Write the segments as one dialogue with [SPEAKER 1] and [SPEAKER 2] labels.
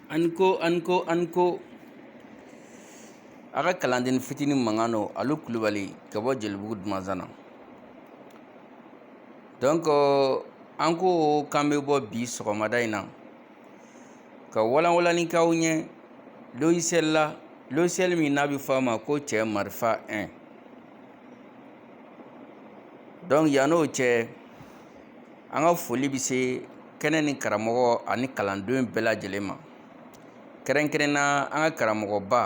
[SPEAKER 1] An ko an ko an ko a ka kalanden fitinin mankan don alu kulubali ka bɔ jelibugu dumanzana donc an ko k'an bɛ bɔ bi sɔgɔmada in na ka walanwalani k'aw ɲɛ logiciel la logiciel min n'a bɛ fɔ a ma ko cɛ marifa 1 donc yann'o cɛ an ka foli bɛ se kɛnɛ ni karamɔgɔ ani kalandenw bɛɛ lajɛlen ma kɛrɛnkɛrɛn na an ka karamɔgɔba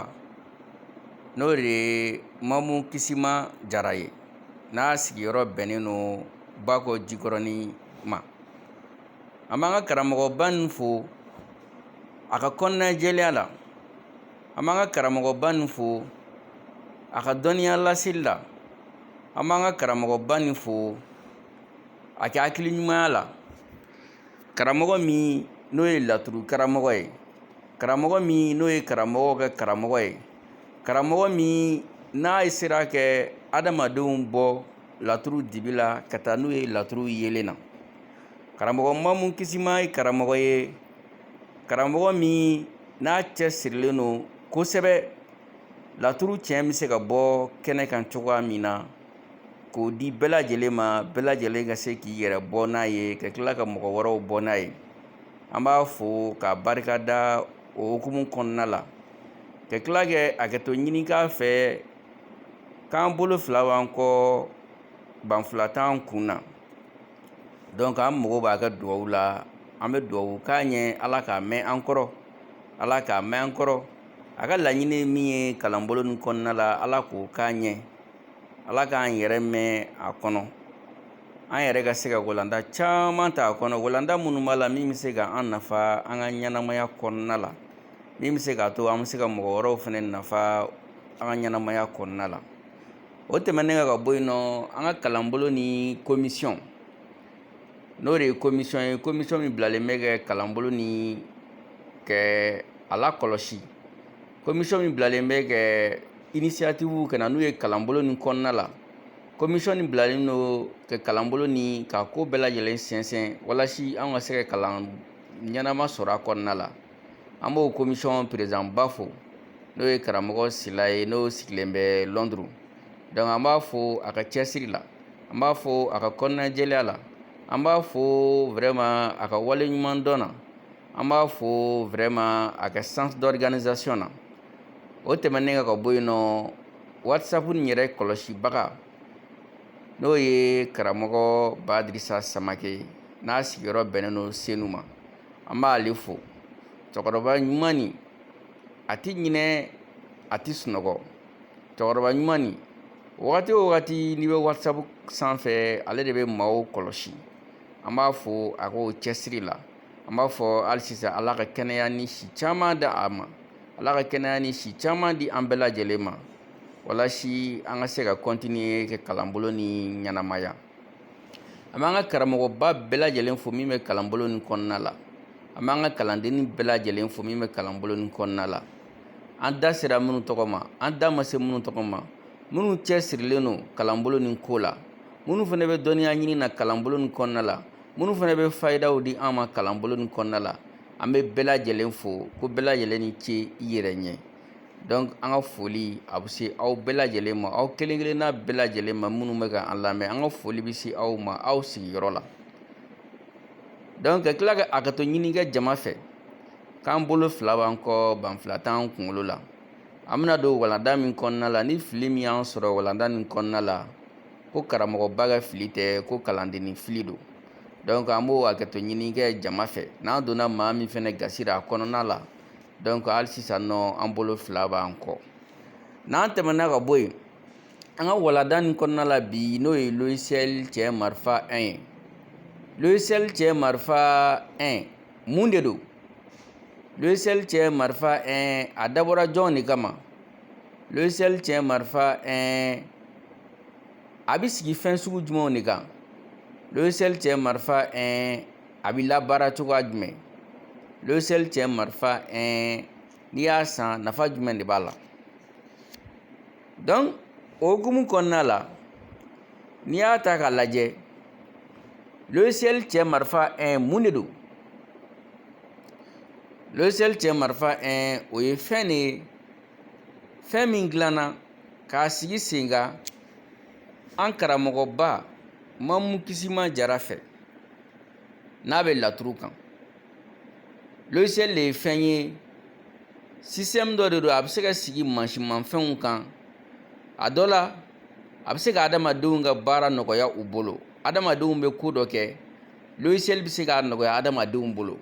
[SPEAKER 1] n'o de ye mamu kisima jara ye n'a sigiyɔrɔ bɛnnen don bakɔ jikɔrɔni ma an b'an ka karamɔgɔba nin fo a ka kɔnɔnajɛlenya la an b'an ka karamɔgɔba nin fo a ka dɔnniya laseli la an b'an ka karamɔgɔba nin fo a ka hakili ɲumanya la karamɔgɔ min n'o ye laturu karamɔgɔ ye karamɔgɔ min n'o ye karamɔgɔw ka karamɔgɔ ye karamɔgɔ min n'a ye sera kɛ adamadenw bɔ laturu dibi la ka taa n'u ye laturu yeelen na karamɔgɔ mamu kisima ye karamɔgɔ ye karamɔgɔ min n'a cɛsirilen don kosɛbɛ laturu tiɲɛ bɛ se ka bɔ kɛnɛ kan cogoya min na k'o di bɛɛ lajɛlen ma bɛɛ lajɛlen ka se k'i yɛrɛ bɔ n'a ye ka tila ka mɔgɔ wɛrɛw bɔ n'a ye an b'a fo k'a barika da o hukumu kɔnɔna la ka tila kɛ hakɛto ɲini k'a fɛ k'an bolo fila b'an kɔ banfula t'an kun na donc an mago b'a ka dugawu la an bɛ dugawu k'a ɲɛ ala k'a mɛɛn an kɔrɔ ala k'a mɛɛn an kɔrɔ a ka laɲini min ye kalanbolo ni kɔnɔna la ala k'o k'a ɲɛ ala k'an yɛrɛ mɛɛn a kɔnɔ an yɛrɛ ka se ka walanda caman ta a kɔnɔ walanda minnu b'a la min bɛ se ka an nafa an ka ɲɛnamaya kɔnɔna la min bɛ se k'a to an bɛ se ka mɔgɔ wɛrɛw fana nafa an ka ɲɛnamaya kɔnɔna la o tɛmɛnen kan ka bɔ yen nɔ an ka kalanbolo ni komisiyɔn n'o de ye komisiyɔn ye komisiyɔn min bilalen bɛ kɛ kalanbolo ni kɛ a lakɔlɔsi komisiyɔn min bilalen bɛ kɛ inisiyatifuw ka na n'u ye kalanbolo ni kɔnɔna la komisiyɔn nin bilalen don ka kalanbolo ni ka ko bɛɛ lajɛlen sɛnsɛn walasi an ka se ka kalan ɲɛnama sɔrɔ a kɔnɔna la an b'o komisɔn perezidanba fo n'o ye karamɔgɔ sila ye n'o sigilen bɛ lɔnduru dɔnku an b'a fo a ka cɛsiri la an b'a fo a ka kɔnɔnajɛlenya la an b'a fo vraiment a ka wale ɲuman dɔn na an b'a fo vraiment a ka sens d'organisation na o tɛmɛnen ka ka bɔ yen nɔ wasapu nin yɛrɛ kɔlɔsibaga n'o ye karamɔgɔ badirisa samakɛ n'a sigiyɔrɔ bɛnnen don senu ma an b'ale fo cɛkɔrɔba ɲuman nin a ti ɲinɛ a ti sunɔgɔ cɛkɔrɔba ɲuman nin wagati o wagati n'i bɛ whatsapp sanfɛ ale de bɛ maaw kɔlɔsi an b'a fo a k'o cɛsiri la an b'a fɔ hali sisan ala ka kɛnɛya ni si caman di a ma ala ka kɛnɛya ni si caman di an bɛɛ lajɛlen ma walasi an ka se ka kɔntiniye ka kalanbolo nin ɲɛnamaya an b'an ka karamɔgɔba bɛɛ lajɛlen fo min bɛ kalanbolo nin kɔnɔna la an b'an ka kalandennin bɛɛ lajɛlen fo min bɛ kalanbolo nin kɔnɔna la an da sera minnu tɔgɔ ma an da ma se minnu tɔgɔ ma minnu cɛ sirilen don kalanbolo nin ko la minnu fana bɛ dɔnniya ɲini na kalanbolo nin kɔnɔna la minnu fana bɛ fayidaw di an ma kalanbolo nin kɔnɔna la an bɛ bɛɛ lajɛlen fo ko bɛɛ lajɛlen ni ce i yɛrɛ ɲɛ Dɔnku an ka foli a bɛ se aw bɛɛ lajɛlen ma aw kelen-kelenna bɛɛ lajɛlen ma minnu bɛ ka an lamɛn an ka foli bɛ se aw ma aw sigiyɔrɔ la dɔnku ka tila ka hakɛto ɲini kɛ jama fɛ k'an bolo fila b'an kɔ banfila t'an kunkolo la an bɛna don walanda min kɔnɔna la ni fili min y'an sɔrɔ walanda nin kɔnɔna la ko karamɔgɔba ka fili tɛ ko kalandennin fili don dɔnku an b'o hakɛto ɲini kɛ jama fɛ n'an donna maa min fana gasira a kɔnɔna la donc hali sisan nɔ an bolo fila b'an kɔ n'an tɛmɛna ka bɔ yen an ka walanda nin kɔnɔna la bi n'o ye logiciel cɛ marifa 1 ye logiciel cɛ marifa 1 mun de don logiciel cɛ marifa 1 a dabɔra jɔn de kama logiciel cɛ marifa 1 a bɛ sigi fɛn sugu jumɛnw de kan logiciel cɛ marifa 1 a bɛ labaara cogoya jumɛn logiciel cɛ marifa 1 n'i y'a san nafa jumɛn de b'a la donc o hukumu kɔnɔna la n'i y'a ta k'a lajɛ logiciel cɛ marifa 1 mun de don logiciel cɛ marifa 1 o ye fɛn de ye fɛn min dilanna k'a sigi sen kan an karamɔgɔba mamu kisima jara fɛ n'a bɛ laturu kan logiciel de ye fɛn ye système dɔ de don a bɛ se ka sigi mansinmafɛnw kan a dɔ la a bɛ se ka adamadenw ka baara nɔgɔya u bolo adamadenw bɛ ko dɔ kɛ logiciel bɛ se k'a nɔgɔya adamadenw bolo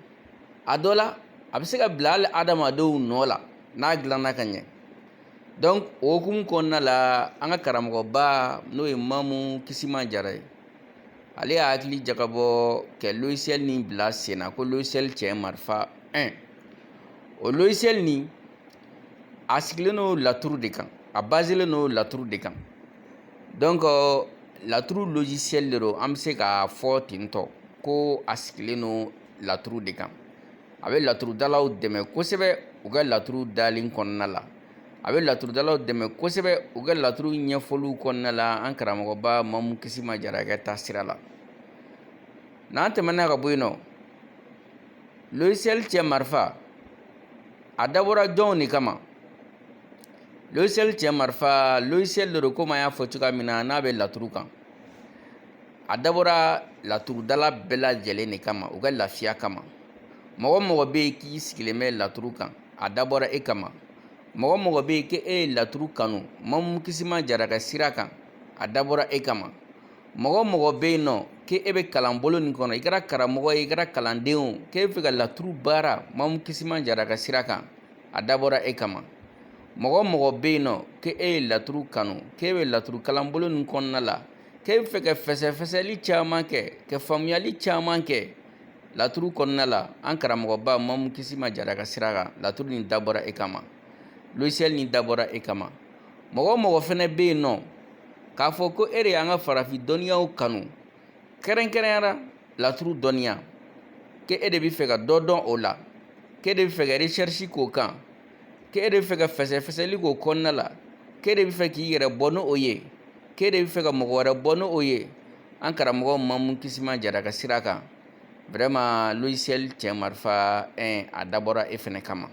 [SPEAKER 1] a dɔ la a bɛ se ka bila hali adamadenw nɔ la n'a dilanna ka ɲɛ donc o hukumu kɔnɔna la an ka karamɔgɔba n'o ye mamu kisima jara ye ale y'a hakili jagabɔ kɛ logiciel nin bila senna ko logiciel cɛ marifa 1 o logiciel nin a sigilen don laturu de kan a baselen don laturu de kan donc euh, laturu logiciel de don an bɛ se k'a fɔ ten tɔ ko a sigilen don laturu de kan a bɛ laturudalaw dɛmɛ kosɛbɛ u ka laturu dalen kɔnɔna la a bɛ laturudalaw dɛmɛ kosɛbɛ u ka laturu ɲɛfɔliw kɔnɔna la an karamɔgɔba mamu kisima jara ka taasira la n'an tɛmɛna ka bɔ yen nɔ logiciel cɛ marifa a dabɔra jɔnw de kama logiciel cɛ marifa logiciel de don komi an y'a fɔ cogoya min na n'a bɛ laturu kan a dabɔra laturudala bɛɛ lajɛlen de kama u ka lafiya kama mɔgɔ o mɔgɔ bɛ yen k'i sigilen bɛ laturu kan a dabɔra e kama mɔgɔ o mɔgɔ bɛ yen k'e ye laturu kanu mamu kisima jara ka sira kan a dabɔra e kama mɔgɔ o mɔgɔ bɛ yen nɔ k'e e bɛ kalanbolo nin kɔnɔ i kɛra karamɔgɔ ye i kɛra kalanden o k'e bɛ fɛ ka laturu baara mamu kisima jara ka sira kan a dabɔra e kama mɔgɔ o mɔgɔ bɛ yen nɔ k'e e ye laturu kanu k'e bɛ laturu kalanbolo nin kɔnɔna la K'e bɛ fɛ ka fɛsɛfɛsɛli caman kɛ ka faamuyali caman kɛ laturu kɔnɔna la an karamɔgɔba mamu kisima jara ka sira kan laturu nin dabɔra e kama logiciel nin dabɔra e kama mɔgɔ o mɔgɔ fɛnɛ bɛ yen nɔ k'a fɔ ko e de y'an ka farafin dɔnniyaw kanu kɛrɛnkɛrɛnyara laturu dɔnniya k'e de bɛ fɛ ka dɔ dɔn o la k'e de bɛ fɛ ka recherche k'o kan k'e de bɛ fɛ ka fɛsɛfɛsɛli k'o kɔnɔna la k'e de bɛ fɛ k'i yɛrɛ bɔ n'o ye k'e de bɛ fɛ ka mɔgɔ wɛrɛ bɔ n'o ye an karamɔgɔ mamu kisima jara ka sira kan vraiment logiciel cɛ marifa 1 a dabɔra e fɛnɛ kama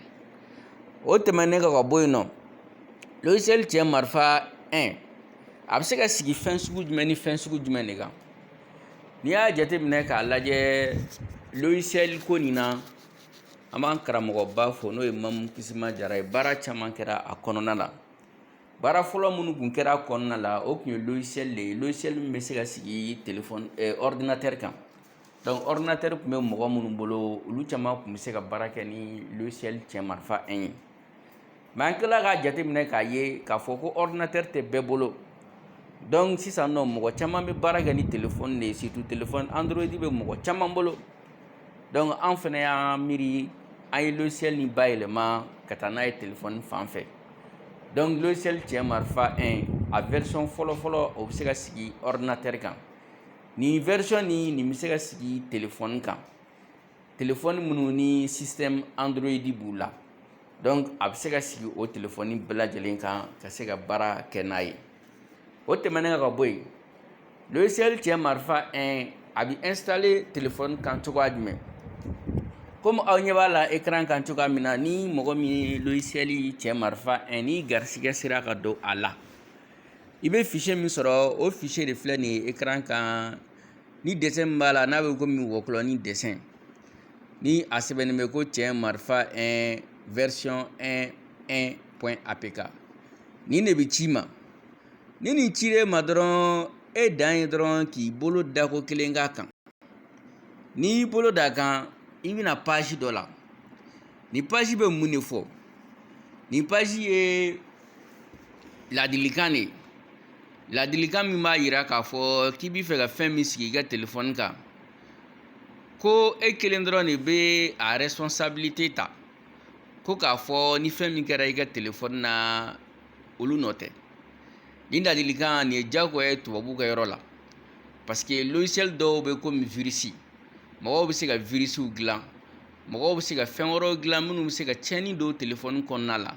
[SPEAKER 1] o tɛmɛnen ka ka bɔ yen nɔ logiciel cɛ marifa 1 a bɛ se ka sigi fɛn sugu jumɛn ni fɛn sugu jumɛn de kan n'i y'a jateminɛ k'a lajɛ logiciel ko nin na an b'an karamɔgɔba fo n'o ye mamu kisima jara ye baara caman kɛra a kɔnɔna la baara fɔlɔ minnu kun kɛra a kɔnɔna la o kun ye logiciel de ye logiciel min bɛ se ka sigi telefɔni eh, ordinateur kan donc ordinateur kun bɛ mɔgɔ minnu bolo olu caman kun bɛ se ka baara kɛ ni logiciel cɛ marifa 1 ye mɛ an tilala k'a jateminɛ k'a ye k'a fɔ ko ɔridinatɛri tɛ bɛɛ bolo donc sisan nɔ mɔgɔ caman bɛ baara kɛ ni telefɔni de ye surtout telefɔni android bɛ mɔgɔ caman bolo donc an fana y'an miiri an ye logiciel nin bayɛlɛma ka taa n'a ye telefɔni fan fɛ donc logiciel cɛ marifa 1 a version fɔlɔfɔlɔ o bɛ se ka sigi ɔridinatɛri kan nin version nin nin bɛ se ka sigi telefɔni kan telefɔni minnu ni système Android b'u la donc a bɛ se ka sigi o telefɔni bɛɛ lajɛlen kan ka se ka baara kɛ n'a ye o tɛmɛnen ka bɔ yen logiciel cɛ marifa 1 a bɛ installer telefɔni kan cogoya jumɛn komi aw ɲɛ b'a la ekran kan cogoya min na ni mɔgɔ min ye logisiyɛli cɛ marifa 1 ni garisigɛ sera ka don a la i bɛ fichier min sɔrɔ o fichier de filɛ nin ye ekran kan Ni dessin min b'a la n'a bɛ komi wɔkulɔni dessin ni a sɛbɛnnen bɛ ko cɛ marifa 1 version 1 1 point apk nin de bɛ c'i ma ni nin cira i ma dɔrɔn e dan ye dɔrɔn k'i bolo dako kelen k'a kan n'i y'i bolo d'a kan i bɛ na page dɔ la nin page bɛ mun de fɔ nin page ye ladilikan de ye Ladilikan min b'a yira k'a fɔ k'i b'i fɛ ka fɛn min sigi i ka telefɔni kan ko e kelen dɔrɔn de bɛ a responsabilité ta ko k'a fɔ ni fɛn min kɛra i ka telefɔni na olu nɔ tɛ nin ladilikan nin ye diyagoya ye tubabuw ka yɔrɔ la parce que logiciel dɔw bɛ komi virus mɔgɔw bɛ se ka virusw dilan mɔgɔw bɛ se ka fɛn wɛrɛw dilan minnu bɛ se ka tiɲɛni don telefɔni kɔnɔna la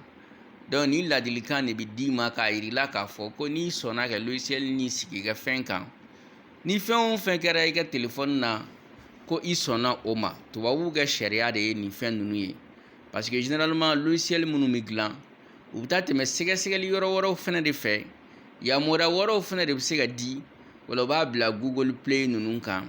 [SPEAKER 1] donc nin ladilikan de bɛ d'i ma k'a yir'i la k'a fɔ ko n'i sɔnna ka logiciel nin sigi i ka fɛn kan ni fɛn o fɛn kɛra i ka telefɔni na ko i sɔnna o ma tubabuw ka sariya de ye nin fɛn ninnu ye parce que généralement logiciel minnu bɛ dilan u bɛ taa tɛmɛ sɛgɛsɛgɛli yɔrɔ wɛrɛw fana de fɛ yamaruya wɛrɛw fana de bɛ se ka di wala u b'a bila google play ninnu kan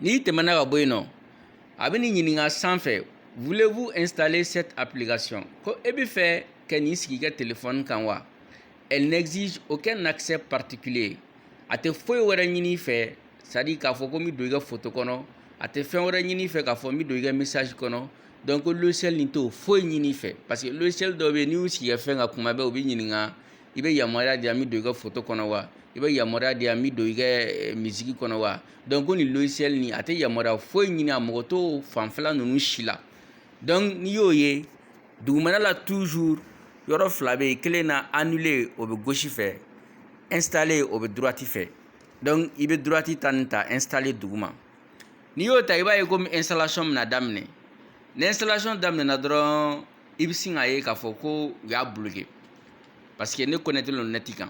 [SPEAKER 1] N'i tɛmɛna ka bɔ yen nɔ a bɛ nin ɲininka sanfɛ voulez-vous installer cette application ko e bɛ fɛ ka nin sigi i ka telefɔni kan wa elle n'exige aucun accès particulier a tɛ foyi wɛrɛ ɲini i fɛ c'est à dire k'a fɔ ko n bɛ don i ka foto kɔnɔ a tɛ fɛn wɛrɛ ɲini i fɛ k'a fɔ n bɛ don i ka message kɔnɔ donc logiciel nin t'o foyi ɲini i fɛ parce que logiciel dɔw bɛ yen n'i y'u sigi i ka fɛn kan kuma bɛɛ u b'i ɲininka i bɛ yamaruya di yan n bɛ don i ka foto kɔnɔ wa i bɛ yamaruya di yan n bɛ don i ka eh, misiki kɔnɔ wa donc ko nin logiciel nin a tɛ yamaruya foyi ɲini a mako t'o fanfɛla ninnu si la donc n'i y'o ye dugumana la toujours yɔrɔ fila bɛ yen kelen na annuler o bɛ gauche fɛ installer o bɛ droite fɛ donc i bɛ droite ta nin ta installer duguma n'i y'o ta i b'a ye komi installation bɛna daminɛ ni installation daminɛna dɔrɔn i bɛ sin k'a ye k'a fɔ ko u y'a bloqué parce que ne connecté lo net kan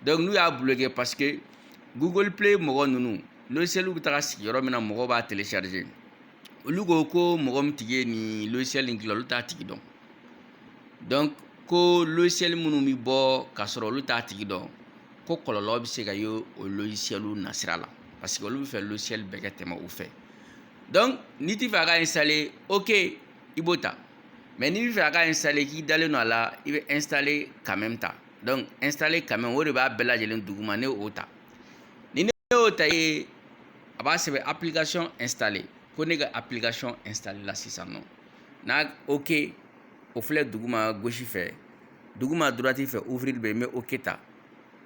[SPEAKER 1] donc n'u y'a bloqué parce que google play mɔgɔ ninnu logiciel bɛ taga sigi yɔrɔ min na mɔgɔw b'a télécharger olu ko ko mɔgɔ min tigi ye nin logiciel in dilan olu t'a tigi dɔn donc ko logiciel minnu bɛ bɔ k'a sɔrɔ olu t'a tigi dɔn ko kɔlɔlɔ bɛ se ka ye o logicielw nasira la parce que olu bɛ fɛ logiciel bɛɛ ka tɛmɛ u fɛ donc n'i tɛ fɛ a ka installer ok i b'o ta mais n'i bɛ fɛ a ka installer k'i dalen don a la i bɛ installer quand même ta donc installer quand même o de b'a bɛɛ lajɛlen duguma ne y'o ta ni ne y'o ta ye a b'a sɛbɛn application installée ko ne ka application installer la sisan nɔ n'a ok o filɛ duguma gauche fɛ duguma droite fɛ ouvrir bɛ yen n bɛ ok ta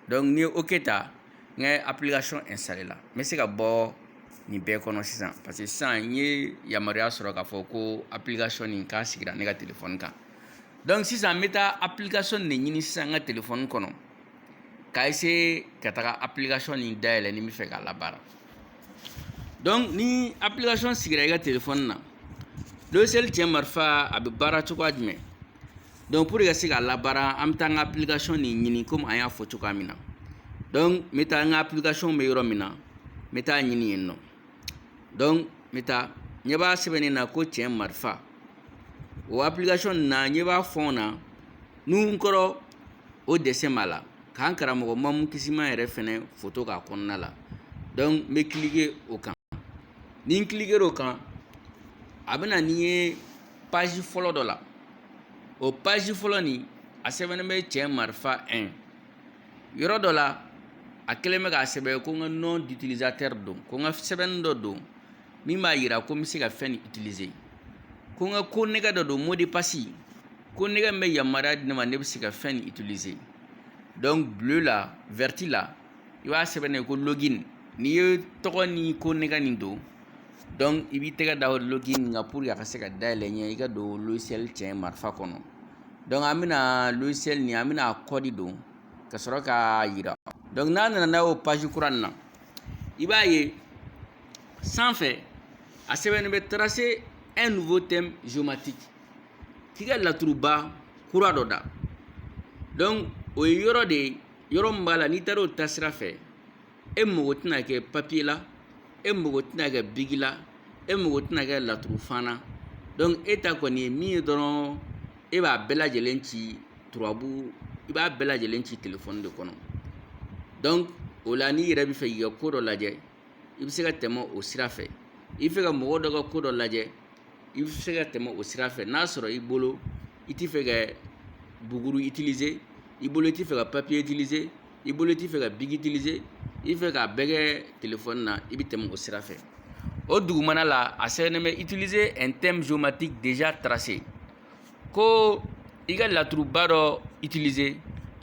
[SPEAKER 1] donc ni n ye ok ta n ka application installer la n bɛ se ka bɔ nin bɛɛ kɔnɔ sisan parce que sisan n ye yamaruya sɔrɔ k'a fɔ ko application nin k'a sigira ne ka téléphone kan donc sisan n bɛ taa application de ɲini sisan n ka téléphone kɔnɔ ka essayer ka taga application nin dayɛlɛ ni n bɛ fɛ k'a labaara donc ni application sigira i ka téléphone na logiciel cɛn marifa a bɛ baara cogoya jumɛn donc pour ka se k'a labaara an bɛ taa an ka application nin ɲini komi an y'a fɔ cogoya min na donc n bɛ taa n ka application bɛ yɔrɔ min na n bɛ taa a ɲini yen nɔ donc n bɛ taa ɲɛ b'a sɛbɛnnen na ko cɛn marifa o application nin na ɲɛ b'a fɔn na nun kɔrɔ o dessin b'a la k'an karamɔgɔ mamu kisiman yɛrɛ fɛnɛ foto k'a kɔnɔna la donc n bɛ cliquer o kan ni n cliquer o kan a bɛ na n'i ye paji fɔlɔ dɔ la o paji fɔlɔ nin a sɛbɛnnen bɛ cɛn marifa 1 yɔrɔ dɔ la a kɛlen bɛ k'a sɛbɛn ko n ka nom d'utilisateur don ko n ka sɛbɛnni dɔ don min b'a yira ko n bɛ se ka fɛn nin utiliser ko n ka konnɛgɛ dɔ don mot de passe konnɛgɛ min bɛ yamaruya di ne ma ne bɛ se ka fɛn nin utiliser donc bleu la verte la i b'a sɛbɛnnen ye ko login n'i ye tɔgɔ ni konnɛgɛ nin don dɔnku i b'i tɛgɛ da login kan pour a ka se ka dayɛlɛn ɲɛ i ka don logiciel cɛ marifa kɔnɔ dɔnku an bɛna logiciel nin an bɛna kɔdi don ka sɔrɔ k'a yira dɔnku n'a nana n'a y'o paji kura na i b'a ye sanfɛ a sɛbɛnnen bɛ tracer un nouveau thème géomatique k'i ka laturuba kura dɔ da dɔnku o ye yɔrɔ de ye yɔrɔ min b'a la n'i taara o ta sira fɛ e mago tɛna kɛ papiye la e mago tɛna kɛ bigi la e mago tɛna kɛ laturu fana dɔnku e ta kɔni ye min ye dɔrɔn e b'a bɛɛ lajɛlen ci turabu i b'a bɛɛ lajɛlen ci telefɔni de kɔnɔ dɔnku o la n'i yɛrɛ bɛ fɛ k'i ka ko dɔ lajɛ i bɛ se ka tɛmɛ o sira fɛ i bɛ fɛ ka mɔgɔ dɔ ka ko dɔ lajɛ i bɛ se ka tɛmɛ o sira fɛ n'a sɔrɔ i bolo i t'i fɛ ka buguru utiliser i bolo i t'i fɛ ka papiye utiliser i bolo t'i fɛ ka bigi utiliser i fɛ k'a bɛɛ kɛ telefɔni na i bɛ tɛmɛ o sira fɛ o dugumana la a sɛbɛnnen bɛ utiliser un thème géomatique déjà tracé ko i ka laturuba dɔ utiliser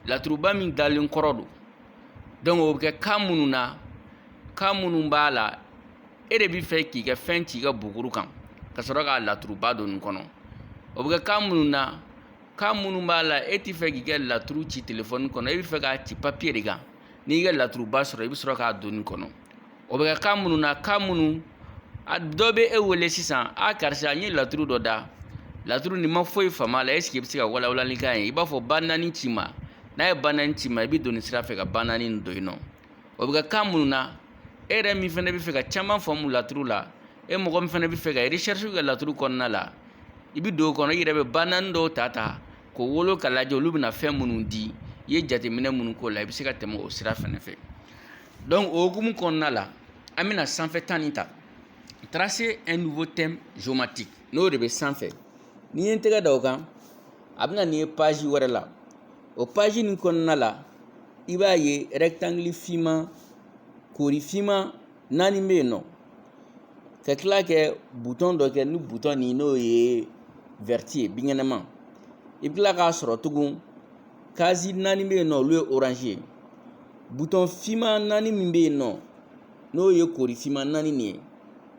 [SPEAKER 1] laturuba min dalen kɔrɔ don donc o bɛ kɛ cas minnu na cas minnu b'a la e de bɛ fɛ k'i ka fɛn ci i ka buguru kan ka sɔrɔ k'a laturuba don nin kɔnɔ o bɛ kɛ cas minnu na cas minnu b'a la e t'i fɛ k'i ka laturu ci telefɔni kɔnɔ e bɛ fɛ k'a ci papiye de kan n'i y'i ka laturuba sɔrɔ i bɛ sɔrɔ k'a don nin kɔnɔ o bɛ kɛ cas minnu na cas minnu a dɔ bɛ e wele sisan a karisa n ye laturu dɔ da laturu nin ma foyi faamu a la ɛseke i bɛ se ka walawalali k'a ye i b'a fɔ ba naani ci ma n'a ye ba naani ci ma i bɛ don nin sira fɛ ka ba naani don yen nɔ o bɛ kɛ cas minnu na e yɛrɛ min fana bɛ fɛ ka caman faamu laturu la e mɔgɔ min fana bɛ fɛ ka recherche kɛ laturu kɔnɔna la i bɛ don o kɔnɔ i yɛrɛ bɛ ba naani dɔw ta ta k'o wolo ka lajɛ olu bɛna fɛn minnu di i ye jateminɛ minnu k'o la i bɛ se ka tɛmɛ o sira fana fɛ donc o hukumu kɔnɔna la an bɛna sanfɛ ta nin ta tracer un nouveau thème géomatique n'o de bɛ sanfɛ ni n ye n tɛgɛ da o kan a bɛ na n'i ye page wɛrɛ la o paji nin kɔnɔna la i b'a ye rɛkitangili finman kori finman naani bɛ yen nɔ ka tila ka butɔn dɔ kɛ ni butɔn nin n'o ye wɛrɛti ye binkɛnɛma i bɛ tila k'a sɔrɔ tugun kazi naani bɛ yen nɔ olu ye oranzi ye butɔn finman naani min bɛ yen nɔ n'o ye kori finman naani nin ye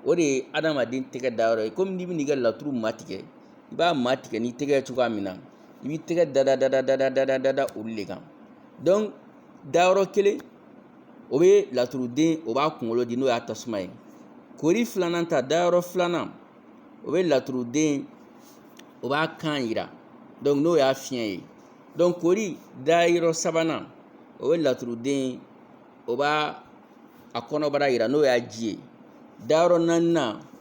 [SPEAKER 1] o de ye adamaden tɛgɛ dayɔrɔ ye komi n'i bɛ n'i ka laturu matigɛ i b'a matigɛ n'i tɛgɛ cogoya min na i b'i tɛgɛ da da olu de kan donc dayɔrɔ kelen o bɛ laturuden o b'a kunkolo di n'o y'a tasuma ye kori filanan ta dayɔrɔ filanan o bɛ laturuden o b'a kan yira donc n'o y'a fiɲɛ ye donc kori dayɔrɔ sabanan o bɛ laturuden o b'a a kɔnɔbara yira n'o y'a ji ye dayɔrɔ naaninan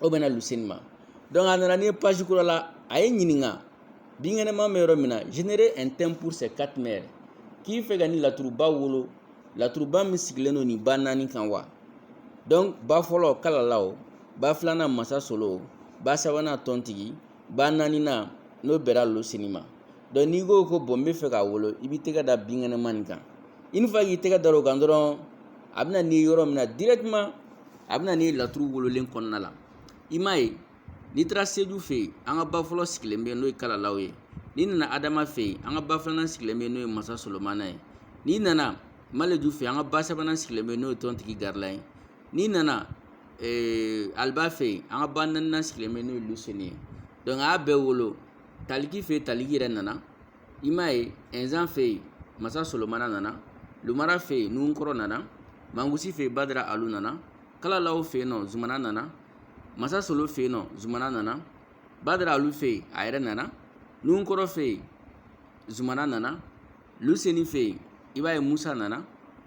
[SPEAKER 1] o bɛnna luseni ma donc a nana n'i ye page kura la a y'i ɲininka binkɛnɛma bɛ yɔrɔ min na générer un thème pour ces quatre mères k'i fɛ ka nin laturuba wolo laturuba min sigilen don nin ba naani kan wa donc ba fɔlɔ kalalaw ba filanan masa solo ba sabanan tɔntigi ba naaninan n'o bɛra luseni ma donc n'i ko ko bon n bɛ fɛ k'a wolo i b'i tɛgɛ da binkɛnɛma nin kan une fois k'i tɛgɛ da o kan dɔrɔn a bɛ na n'i ye yɔrɔ min na directement a bɛ na n'i ye laturu wololen kɔnɔna la i m'a ye n'i taara seju fɛ yen an ka ba fɔlɔ sigilen bɛ yen n'o ye kalalaw ye n'i nana adama fɛ yen an ka ba filanan sigilen bɛ yen n'o ye masa solomana ye n'i nana maleju fɛ an ka ba sabanan sigilen bɛ yen n'o ye tɔntigi garila ye n'i nana ee aliba fɛ yen an ka ba naaninan sigilen bɛ yen n'o ye luseni ye donc a y'a bɛɛ wolo taliki fɛ yen taliki yɛrɛ nana i m'a ye ɛnzan fɛ yen masa solomana nana lumara fɛ yen nuhunkɔrɔ nana mangusi fɛ yen badara alu nana kalalaw fɛ yen nɔ zumana nana masa solo fɛ yen nɔ zumana nana badara alu fɛ yen a yɛrɛ nana nuhunkɔrɔ fɛ yen zumana nana luseni fɛ yen i b'a ye musa nana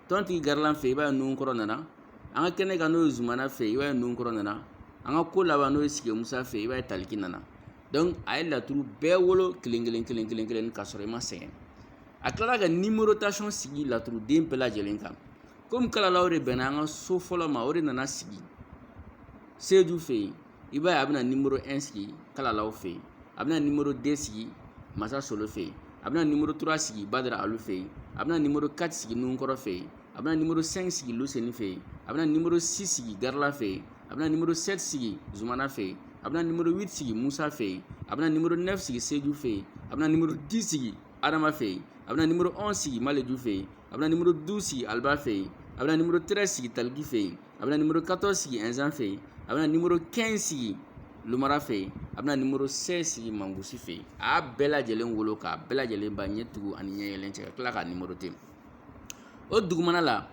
[SPEAKER 1] tɔntigi garilan fɛ yen i b'a ye nuhunkɔrɔ nana an ka kɛnɛ kan n'o ye zumana fɛ yen i b'a ye nuhunkɔrɔ nana an ka ko laban n'o ye sigi musa fɛ yen i b'a ye taliki nana donc a ye laturu bɛɛ wolo kelen kelen kelen kelen kelen ka sɔrɔ i ma sɛgɛn a tilala ka numérotation sigi laturuden bɛɛ lajɛlen kan komi kalalaw de bɛnna an ka so fɔlɔ ma o de nana sigi seju fɛ yen i b'a ye a bɛna numéro un sigi kalalaw fɛ yen a bɛna numéro deux sigi masa solo fɛ yen a bɛna numéro trois sigi badara alu fɛ yen a bɛna numéro quatre sigi nuhunkɔrɔ fɛ yen a bɛna numéro cinq sigi luseni fɛ yen a bɛna numéro six sigi garila fɛ yen a bɛna numéro sept sigi zumana fɛ yen a bɛna numéro huit sigi musa fɛ yen a bɛna numéro neuf sigi seju fɛ yen a bɛna numéro dix sigi adama fɛ yen a bɛna numéro onze sigi maleju fɛ yen a bɛna numéro douze sigi aliba fɛ yen a bɛna numéro treize sigi taliki fɛ yen a bɛna numéro quatorze sigi ɛnzan fɛ yen a bɛna numéro quinze sigi lumara fɛ yen a bɛna numéro seize sigi mangusi fɛ yen a y'a bɛɛ lajɛlen wolo k'a bɛɛ lajɛlen ba ɲɛ tugu ani ɲɛ yɛlɛn cɛ ka tila k'a numéroter o dugumana la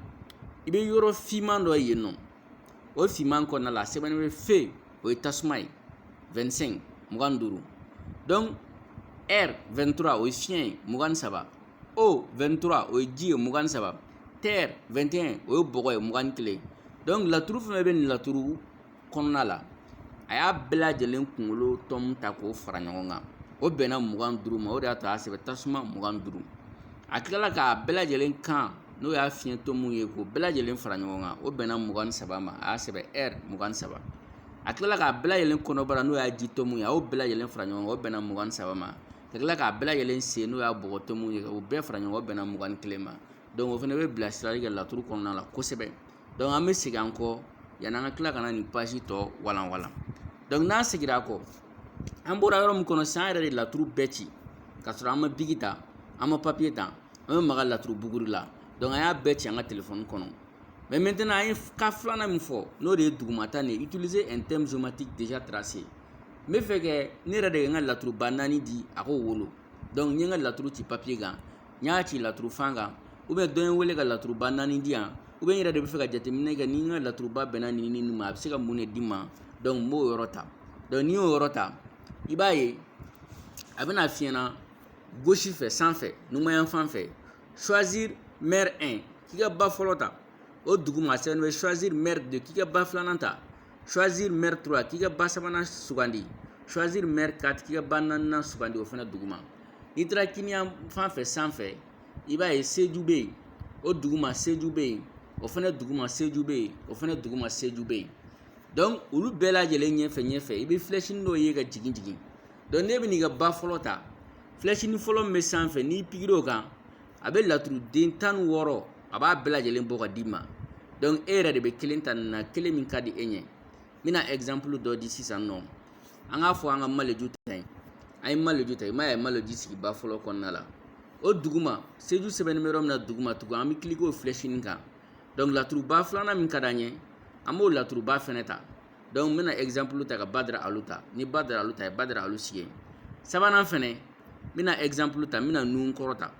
[SPEAKER 1] i bɛ yɔrɔ finman dɔ ye yen nɔ o finman kɔnɔna la a sɛbɛnnen bɛ feu o ye tasuma ye vingt-cinq mugan ni duuru donc air vingt-trois o ye fiɲɛ ye mugan ni saba eau vingt-trois o ye ji ye mugan ni saba terre vingt et un o ye bɔgɔ ye mugan ni kelen donc laturu fɛnɛ bɛ nin laturu kɔnɔna la a y'a bɛɛ lajɛlen kunkolo tɔmu ta k'o fara ɲɔgɔn kan o bɛnna mugan duuru ma o de y'a to a y'a sɛbɛn tasuma mugan duuru a tilala k'a bɛɛ lajɛlen kan n'o y'a fiɲɛ tɔmu ye k'o bɛɛ lajɛlen fara ɲɔgɔn kan o bɛnna mugan ni saba ma a y'a sɛbɛn air mugan ni saba a tilala k'a bɛɛ lajɛlen kɔnɔbara n'o y'a ji tɔmu ye a y'o bɛɛ lajɛlen fara ɲɔgɔn kan o bɛnna mugan ni saba ma ka tila k'a bɛɛ lajɛlen sen n'o y'a bɔgɔ tɔmu ye o bɛɛ fara ɲɔgɔn kan o bɛnna mugan ni kelen ma donc o fana bɛ bilasirali kɛ laturu kɔnɔna la kosɛbɛ donc an bɛ segin an kɔ yanni an ka tila ka na nin page tɔ walan walan donc n'an seginna a kɔ an bɔra yɔrɔ min kɔnɔ sisan an yɛrɛ de laturu bɛɛ ci ka sɔrɔ an ma bigi ta an ma papiye ta an bɛ maga laturu buguri la donc an y'a bɛɛ ci an ka telefɔni kɔnɔ mais maintenant an ye cas filanan min fɔ n'o de ye dugumata nin ye utiliser un thème géomantique déjà tracé n bɛ fɛ kɛ ne yɛrɛ de ye n ka laturuba naani di a k'o wolo donc n ye n ka laturu ci papiye kan n y'a ci laturu fan kan ou bien dɔ ye n wele ka laturuba naani di yan ou bien n yɛrɛ de bɛ fɛ ka jateminɛ kɛ ni n ka laturuba bɛnna nin ni nin ma a bɛ se ka mun de di n ma donc n b'o yɔrɔ ta donc n'i y'o yɔrɔ ta i b'a ye a bɛna f'i ɲɛna gauche fɛ sanfɛ numanyan fan fɛ choisir mère 1 k'i ka ba fɔlɔ ta o duguma a sɛbɛnnen bɛ choisir mère 2 k'i ka ba filanan ta choisir mère 3 k'i ka ba sabanan sugandi choisir mère 4 k'i ka ba naaninan sugandi o fana duguma n'i taara kiniyan fan fɛ sanfɛ i b'a ye seju bɛ yen o duguma seju bɛ yen o fana duguma seju bɛ yen o fana duguma seju bɛ yen donc olu bɛɛ lajɛlen ɲɛfɛ ɲɛfɛ i bɛ filɛsini dɔ ye ka jigin jigin donc n'e bɛ n'i ka ba fɔlɔ ta filɛsini fɔlɔ min bɛ sanfɛ n'i pikiri o kan a bɛ laturuden tan ni wɔɔrɔ a b'a bɛɛ lajɛlen bɔ ka d'i ma donc e yɛrɛ de bɛ kelen ta nin na kelen min ka di e ɲɛ n bɛna exemple dɔ di sisan nɔ an k'a fɔ an ka maleju ta ye an ye maleju ta i m'a ye maleju sigi ba fɔlɔ kɔnɔna la o duguma seju sɛbɛnnen bɛ yɔrɔ min na duguma tugun an bɛ cliquer o filɛsini kan donc laturuba filanan min ka d'an ye an b'o laturuba fɛnɛ ta donc n bɛna exemple ta ka badara alu ta n ye badara alu ta a ye badara alu sigi sabanan fɛnɛ n bɛna exemple ta n bɛna nun kɔrɔ ta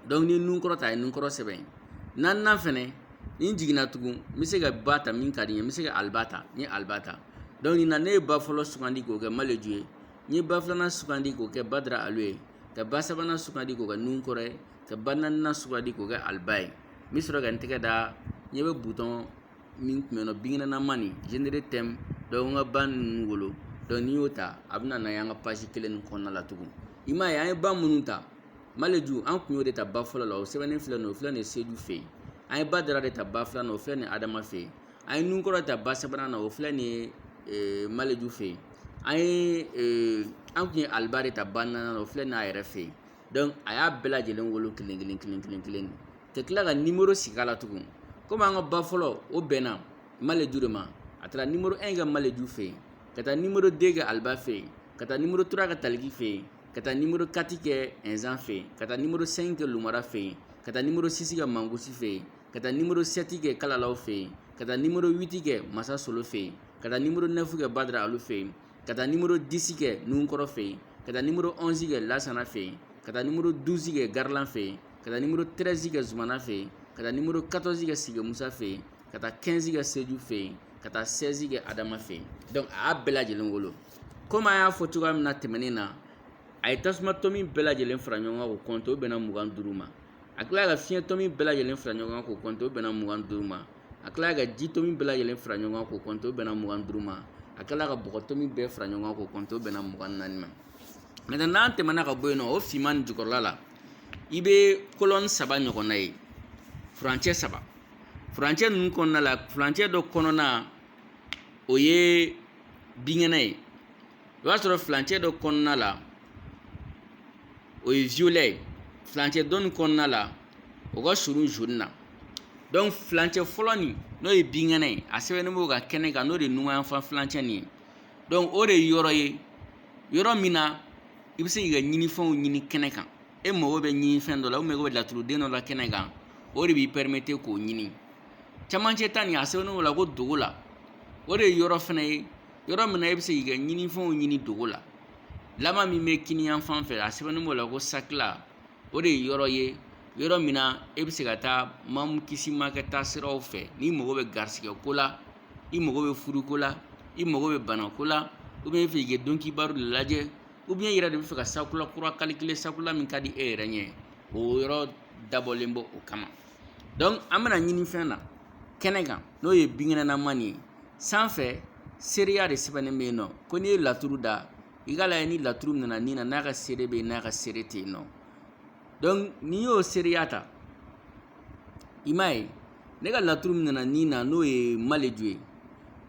[SPEAKER 1] donc n ye nun kɔrɔ ta a ye nun kɔrɔ sɛbɛn yen naaninan fɛnɛ ni n jiginna tugun n bɛ se ka ba ta min ka di n ye n bɛ se ka aliba ta n ye aliba ta donc nin na ne ye ba fɔlɔ sugandi k'o kɛ maleju ye n ye ba filanan sugandi k'o kɛ badara alu ye ka ba sabanan sugandi k'o kɛ nun kɔrɔ ye ka ba naaninan sugandi k'o kɛ aliba ye n bɛ sɔrɔ ka n tɛgɛ da ɲɛ bɛ butɔn min tun bɛ yen nɔ binkɛnɛnaman nin générer thème donc an ka ba ninnu wolo donc n'i y'o ta a bɛ na n'a ye an ka page kelen nin kɔnɔna la tugun i m'a ye an ye ba minnu ta maleju an tun y'o de ta ba fɔlɔ la o sɛbɛnnen filɛ nin ye o filɛ nin ye seju fɛ yen an ye badara de ta ba filanan o filɛ nin ye adama fɛ yen an ye nunkɔrɔ ta ba sabanan na o filɛ nin ye eh, maleju fɛ yen an ye eh, an tun ye aliba de ta ba naaninan na o filɛ nin ye a yɛrɛ fɛ yen dɔnku a y'a bɛɛ lajɛlen wolo kelen kelen kelen kelen kelen ka tila ka nimoro sigi a la tugun komi an ka ba fɔlɔ o bɛnna maleju de ma a taara nimoro 1 kɛ maleju fɛ yen ka taa nimoro 2 kɛ aliba fɛ yen ka taa nimoro 3 kɛ taliki fɛ yen ka taa nimoro 4 kɛ ɛnzan fɛ yen ka taa nimoro 5 kɛ lumara fɛ yen ka taa nimoro 6 kɛ mangosi fɛ yen ka taa nimoro 7 kɛ kalalaw fɛ yen ka taa nimoro 8 kɛ masa solo fɛ yen ka taa nimoro 9 kɛ badara alu fɛ yen ka taa nimoro disi kɛ nun kɔrɔ fɛ yen ka taa nimoro ɔnzi kɛ lasana fɛ yen ka taa nimoro duzi kɛ garilan fɛ yen ka taa nimoro tɛrɛzi kɛ zumana fɛ yen ka taa nimoro katɔzi kɛ sige musa fɛ yen ka taa kɛnzi kɛ seju fɛ yen ka taa sɛzi kɛ adama fɛ yen dɔnku a y'a bɛɛ lajɛlen wolo komi an y'a fɔ cogoya min na tɛmɛnen na a ye tasuma tomi bɛɛ lajɛlen fara ɲɔgɔn kan k'o kɔnte o bɛnna mugan ni duuru ma a tilala ka fiɲɛ tomi bɛɛ lajɛlen fara ɲɔgɔn kan k'o kɔnte o bɛnna mugan ni duuru ma a tilala ka ji tomi bɛɛ lajɛlen fara ɲɔgɔn kan k'o kɔnte o bɛnna mugan ni duuru ma a tilala ka bɔgɔ tomi bɛɛ fara ɲɔgɔn kan k'o kɔnte o bɛnna mugan ni naani ma maintenant n'an tɛmɛna ka bɔ yen nɔ o finman nin jukɔrɔla la i bɛ kolɔni saba ɲɔgɔnna ye furancɛ saba furancɛ ninnu kɔnɔna la furancɛ dɔ kɔnɔna o ye binkɛnɛ ye i b'a sɔrɔ furancɛ dɔ kɔnɔna la o ye violet ye furancɛ dɔ nin kɔnɔna la o ka surun jaune na dɔnku furancɛ fɔlɔ nin n'o ye binkɛnɛ ye a sɛbɛnnen b'o ka kɛnɛ kan n'o de ye numanyanfan furancɛ nin ye dɔnku o de ye yɔrɔ ye yɔrɔ min na i bɛ se k'i ka ɲinifɛnw ɲini kɛnɛ kan e mago bɛ ɲinifɛn dɔ la ubiyɛn i mago bɛ laturuden dɔ la kɛnɛ kan o de b'i pɛrimete k'o ɲini camancɛ ta nin a sɛbɛnnen b'o la ko dogo la o de ye yɔrɔ fana ye yɔrɔ min na e bɛ se k'i ka ɲinifɛnw ɲini dogo la laban min bɛ kiniyan fan fɛ a sɛbɛnnen b'o la ko sakila o de ye yɔrɔ ye yɔrɔ min na e bɛ se ka taa mamu kisi ma kɛ taa siraw fɛ n'i mago bɛ garisigɛ ko la i mago bɛ furuko la i mago bɛ banako la ubiyɛn i bɛ fɛ k'i ka donkibaru de lajɛ ubiyɛn i yɛrɛ de bɛ fɛ ka sakula kura calculer sakula min ka di e yɛrɛ ɲɛ o yɔrɔ dabɔlen b'o kama donc an bɛna ɲinifɛn na kɛnɛ kan n'o ye binkɛnɛnaman nin ye sanfɛ seereya de sɛbɛnnen bɛ yen nɔ ko n'i ye laturu da i k'a lajɛ ni laturu min nana nin na n'a ka seere bɛ yen n'a ka seere tɛ yen nɔ donc n'i y'o seereya ta i m'a ye ne ka laturu min nana nin na n'o ye maleju ye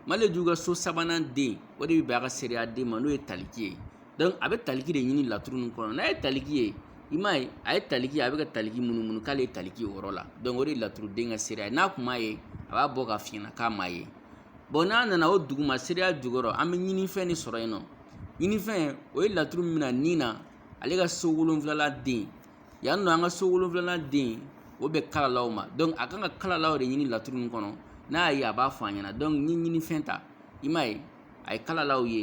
[SPEAKER 1] maleju ka so sabanan den o de bɛ bɛn a ka seereya den ma n'o ye taliki ye dɔnku a bɛ taliki de ɲini laturu nin kɔnɔ n'a ye taliki ye i m'a ye a ye taliki a bɛ ka taliki munumunu k'ale ye taliki o yɔrɔ la dɔnku o de ye laturuden ka seereya ye n'a kun m'a ye a b'a bɔ k'a f'i ɲɛna k'a m'a ye bon n'a nana o duguma seereya jukɔrɔ an bɛ ɲinifɛn de sɔrɔ yen nɔ ɲinifɛn o ye laturu min na nin na ale ka so wolonfilala den yan nɔ an ka so wolonfilala den o bɛ kalalaw ma dɔnku a kan ka kalalaw de ɲini laturu nin kɔnɔ n'a y'a ye a b'a fɔ an ɲɛna dɔnku ni ɲinifɛn ta i m'a ye a ye kalalaw ye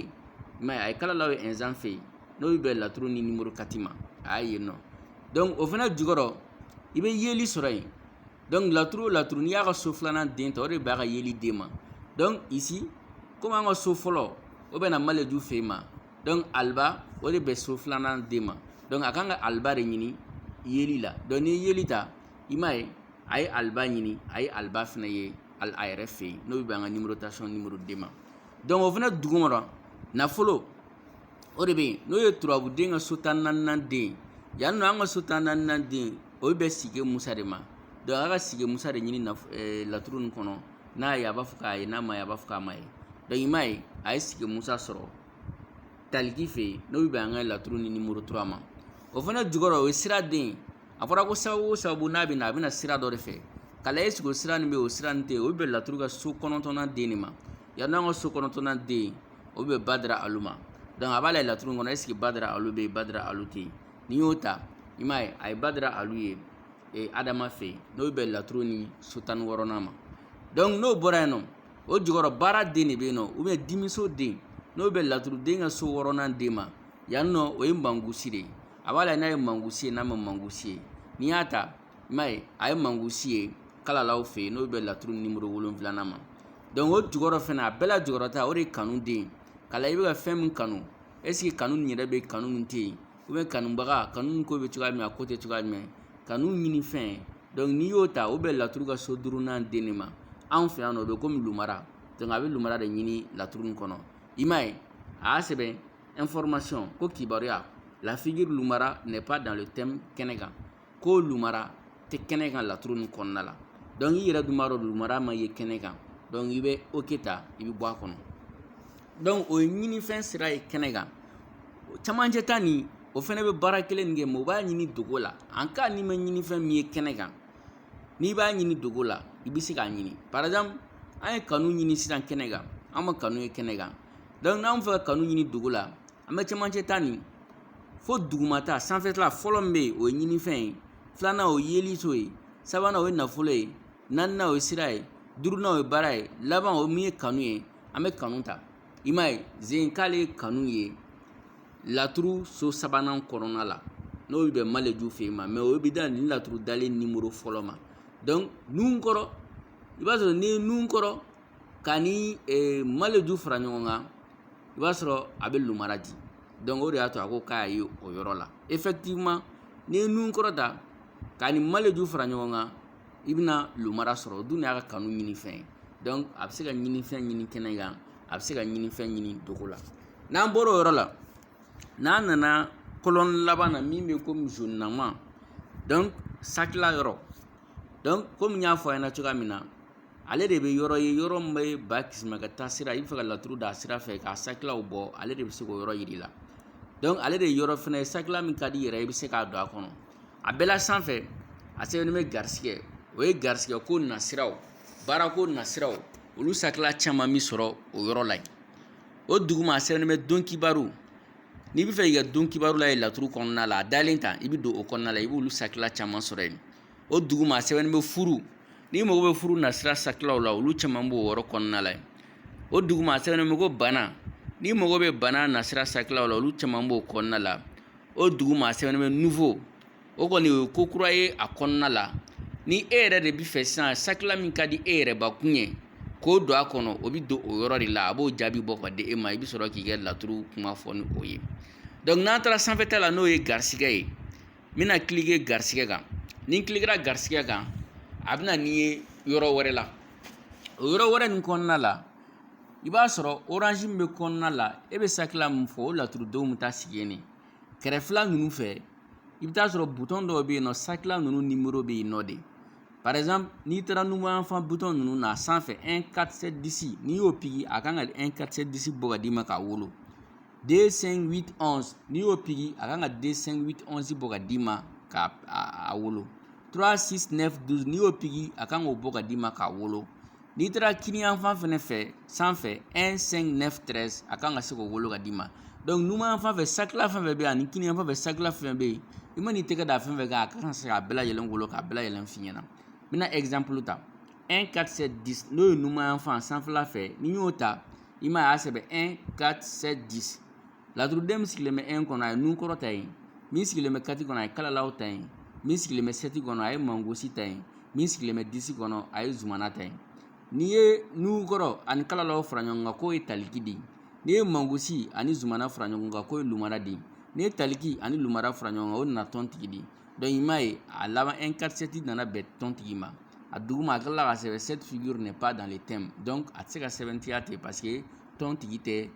[SPEAKER 1] i m'a ye a ye kalalaw ye ɛnzan fɛ yen n'o bɛ bɛn laturu ni numéro quatre ma a y'a ye nɔ donc o fana jukɔrɔ i bɛ yeli sɔrɔ yen donc laturu o laturu n'i y'a ka so filanan den ta o de b'a ka yeli den ma donc ici komi an ka so fɔlɔ o bɛna maleju fɛ yen ma donc aliba o de bɛ so filanan den ma donc a kan ka aliba de ɲini yeli la donc n'i ye yeli ta i m'a ye a ye aliba ɲini a ye aliba fana ye ali a yɛrɛ fɛ yen n'o bɛ bɛn an ka numérotation numéro deux ma dɔnku o fana jukɔrɔ nafolo o de bɛ yen n'o ye turabuden ka so tan naaninan den yan nɔ an ka so tan naaninan den o bɛ sigi musa de ma dɔnku a ka sigi musa de ɲini eh, laturu nin kɔnɔ n'a ye a b'a fɔ k'a ye n'a ma ye a b'a fɔ k'a ma ye dɔnku i m'a ye a ye sigi musa sɔrɔ taliki fɛ yen n'o bɛ bɛn an ka laturu ni numéro trois ma o fana jukɔrɔ o ye sira den ye a fɔra ko sababu o sababu n'a bɛ na a bɛna sira dɔ de fɛ k'a lajɛ ɛseke o sira nin bɛ o sira nin tɛ yen o bɛ bɛn laturu ka so kɔnɔntɔnnan den de ma yan nɔ an ka so kɔnɔntɔnnan den o bɛ badara alu ma a b'a lajɛ laturu kɔnɔ ɛseke badara alu bɛ yen badara alu tɛ yen n'i y'o ta i m'a ye a ye badara alu ye ee adama fɛ yen n'o bɛ bɛn laturu ni so tan ni wɔɔrɔnan ma dɔnku n'o bɔra yen nɔ o jukɔrɔ baara den de bɛ yen nɔ ubiyɛn dimiso den n'o bɛ laturuden ka so wɔɔrɔnan den ma yan nɔ o ye mankusi de ye a b'a lajɛ n'a ye mankusi ye n'a ma mankusi ye n'i y'a ta i m'a ye a ye mankusi ye kalalaw fɛ yen n'o bɛ laturu nimoro wolonfila ma o jukɔrɔ fana a bɛɛ la jukɔrɔ ta o de ye kanu den ye k'a lajɛ i bɛ ka fɛn min kanu ɛseke kanu nin yɛrɛ bɛ kanu nin tɛ yen ubiyɛn kanubaga kanu nin ko bɛ cogoya min na a ko tɛ cogoya jumɛn kanu ɲini fɛn n'i y'o ta o bɛ laturu ka so duurunan den de ma anw fɛ yan nɔ o bɛ komi lumara a bɛ lumara de ɲini laturu nin kɔnɔ i m'a ye a y'a sɛbɛn information ko kibaruya la figure lumara n'est pas dans le thème kɛnɛ kan ko lumara tɛ kɛnɛ kan laturu nin kɔnɔna la donc i yɛrɛ dun b'a dɔn lumara ma ye kɛnɛ kan donc i bɛ ok ta i bɛ bɔ a kɔnɔ donc o ye ɲinifɛn sira ye kɛnɛ kan camancɛ ta nin o fana bɛ baara kelen nin kɛ mais o b'a ɲini dogo la en cas n'i ma ɲinifɛn min ye kɛnɛ kan n'i b'a ɲini dogo la i bɛ se k'a ɲini par exemple an ye kanu ɲini sisan kɛnɛ kan an ma kanu ye kɛnɛ kan n'an bɛ fɛ ka kanu ɲini dogo la an bɛ camancɛ ta nin fo dugumata sanfɛla fɔlɔ min bɛ yen o ye ɲinifɛn ye filanan o ye yeliso ye sabanan o ye nafolo ye naaninan o ye sira ye duurunan o ye baara ye laban o min ye kanu ye an bɛ kanu ta i m'a ye zen k'ale ye kanu ye laturu so sabanan kɔnɔna la n'o bɛ bɛn maleju fɛ yen ma mais o bɛ da nin laturu dalen nimoro fɔlɔ ma donc nunkɔrɔ i b'a sɔrɔ n'i ye nunkɔrɔ ka ni maleju fara ɲɔgɔn kan i b'a sɔrɔ a bɛ lumara di donc o de y'a to a ko k'a ye o yɔrɔ la effectivement n'i ye nunkɔrɔ ta ka ni maleju fara ɲɔgɔn kan i bɛna lumara sɔrɔ o dun y'a ka kanu ɲinifɛn ye donc a bɛ se ka ɲinifɛn ɲini kɛnɛ kan a bɛ se ka ɲinifɛn ɲini dogo la n'an bɔra o yɔrɔ la n'an nana colonne laban na min bɛ komi zonama donc sakila yɔrɔ donc komi n y'a fɔ a ɲɛna cogoya min na ale de bɛ yɔrɔ ye yɔrɔ min bɛ ba kisima ka taa sira i bɛ fɛ ka laturu da sira fɛ k'a sakilaw bɔ ale de bɛ se k'o yɔrɔ yir'i la donc ale de ye yɔrɔ fana ye sakila min ka di yɛrɛ i bɛ se k'a don a kɔnɔ a bɛɛ la sanfɛ a sɛbɛnnen bɛ garisigɛ o ye garisigɛko nasiraw baarako nasiraw olu sakila caman bɛ sɔrɔ o yɔrɔ la yen o duguma a sɛbɛnnen bɛ don kibaru n'i bɛ fɛ i ka don kibaru lajɛ laturu kɔnɔna la a dalen ta i bɛ don o kɔnɔna la i b'olu sakila caman sɔrɔ yen o duguma a sɛbɛnnen bɛ furu n'i mago bɛ furu nasira sakilaw la olu caman b'o yɔrɔ kɔnɔna la yen o duguma a sɛbɛnnen bɛ ko bana n'i mago bɛ bana nasira sakilaw la olu caman b'o kɔnɔna la o duguma a sɛbɛnnen bɛ nouveau o kɔni o ye ko kura ye a kɔnɔna la ni e yɛrɛ de bɛ fɛ sisan sakila min ka di e yɛrɛbakun ye k'o don a kɔnɔ o bɛ don o yɔrɔ de la a b'o jaabi bɔ ka di e ma i bɛ sɔrɔ k'i ka laturu kuma fɔ ni o ye donc n'an taara sanfɛta la n'o ye garisigɛ ye n bɛna kilike garisigɛ kan ni n kilikera garisigɛ kan a bɛ na n'i ye yɔrɔ wɛrɛ la o yɔrɔ wɛrɛ nin kɔnɔna la i b'a sɔrɔ orange min bɛ kɔnɔna la e bɛ sakila min fɔ o laturudenw bɛ taa sigi yen de kɛrɛfɛla ninnu fɛ i bɛ t'a sɔrɔ butɔn dɔw bɛ yen nɔ sakila ninnu nimoro bɛ yen nɔ de par exemple n'i taara numanyanfan butɔn ninnu na a sanfɛ 1 4 7 10 n'i y'o piki a kan ka 1 4 7 10 bɔ ka d'i ma k'a wolo 2 5 8 11 n'i y'o piki a kan ka 2 5 8 11 bɔ ka d'i ma k'a wolo 3 6 9 12 n'i y'o piki a kan k'o bɔ ka d'i ma k'a wolo n'i taara kiniyanfan fɛnɛ fɛ sanfɛ 1 5 9 13 a kan ka se k'o wolo ka d'i ma donc numanyanfan fɛ sakila fɛn fɛn bɛ yen ani kiniyanfan fɛ sakila fɛn fɛn bɛ yen i man'i tɛgɛ da fɛn fɛn kan a kan ka se k'a bɛɛ lajɛlen wolo k'a bɛɛ lajɛlen f'i ɲɛna n bɛna exemple ta 1 4 7 10 n'o ye numanyanfan sanfɛla fɛ n'i y'o ta i m'a ye a y'a sɛbɛn laturuden min sigilen bɛ un kɔnɔ a ye nun kɔrɔ ta yen min sigilen bɛ quatre kɔnɔ a ye kalalaw ta yen min sigilen bɛ sept kɔnɔ a ye mangosi ta yen min sigilen bɛ dix kɔnɔ a ye zumana ta yen n'i ye nun kɔrɔ ani kalalaw fara ɲɔgɔn kan k'o ye taliki di n'i ye mangosi ani zumana fara ɲɔgɔn kan k'o ye lumara di n'i ye taliki ani lumara fara ɲɔgɔn kan o nana tɔn tigi di donc i m'a ye a laban un quatre sept nana bɛn tɔn tigi ma a duguma a tilala ka sɛbɛn cette figure n'est pas dans le thème donc a tɛ se ka sɛmɛntiya ten parce que tɔn tigi tɛ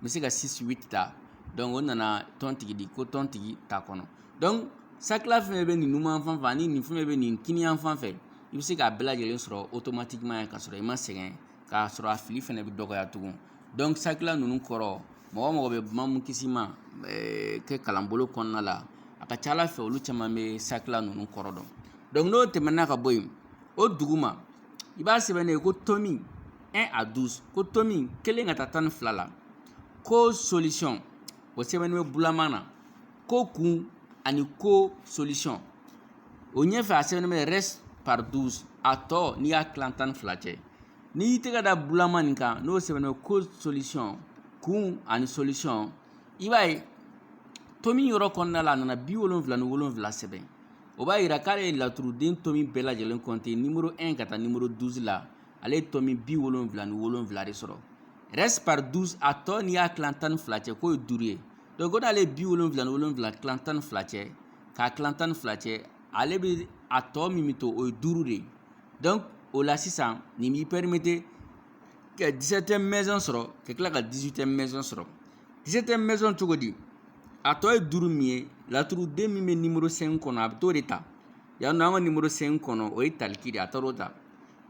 [SPEAKER 1] n bɛ se ka six huit ta donc o nana tɔn tigi di ko tɔn tigi t'a kɔnɔ donc sakila fɛn bɛ nin numanyan fan fɛ ani nin fɛn bɛ nin kiniyan fan fɛ i bɛ se k'a bɛɛ lajɛlen sɔrɔ automatiquement ye k'a sɔrɔ i ma sɛgɛn k'a sɔrɔ a fili fɛnɛ bɛ dɔgɔya tugun donc sakila ninnu kɔrɔ mɔgɔ mɔgɔ bɛ mamu kisima eh, ka kalanbolo kɔnɔna la a ka ca a la fɛ olu caman bɛ sakila ninnu kɔrɔ dɔn donc n'o tɛmɛna ka bɔ yen o duguma i b'a sɛbɛnnen ye ko tomi un à douze ko tomi kelen ka taa tan ni fila la ko solution o sɛbɛnnen bɛ bulaman na ko kun ani ko solution o ɲɛfɛ a sɛbɛnnen bɛ reste par douze a tɔ n'i y'a tilan tan ni fila cɛ n'i y'i tɛgɛ da bulama nin kan n'o sɛbɛnnen bɛ ko solution kun ani solution i b'a ye tomi yɔrɔ kɔnɔna la a nana bi wolonwula ni wolonwula sɛbɛn o b'a yira k'ale ye laturuden tomi bɛɛ lajɛlen compter nimoro 1 ka taa nimoro 12 la ale ye tomi bi wolonwula ni wolonwula de sɔrɔ reste par 12 a tɔ n'i y'a tilan tan ni fila cɛ k'o ye duuru ye donc ko n'ale ye bi wolonwula ni wolonwula tilan tan ni fila cɛ k'a tilan tan ni fila cɛ ale bɛ a tɔ min bɛ to o ye duuru de ye donc o la sisan nin b'i permettre ka 17e maison sɔrɔ ka tila ka 18e maison sɔrɔ 17e maison cogo di a tɔ ye duuru min ye laturuden min bɛ nimoro 5 kɔnɔ a bɛ t'o de ta yan nɔ an ka nimoro 5 kɔnɔ o ye taliki de ye a taar'o ta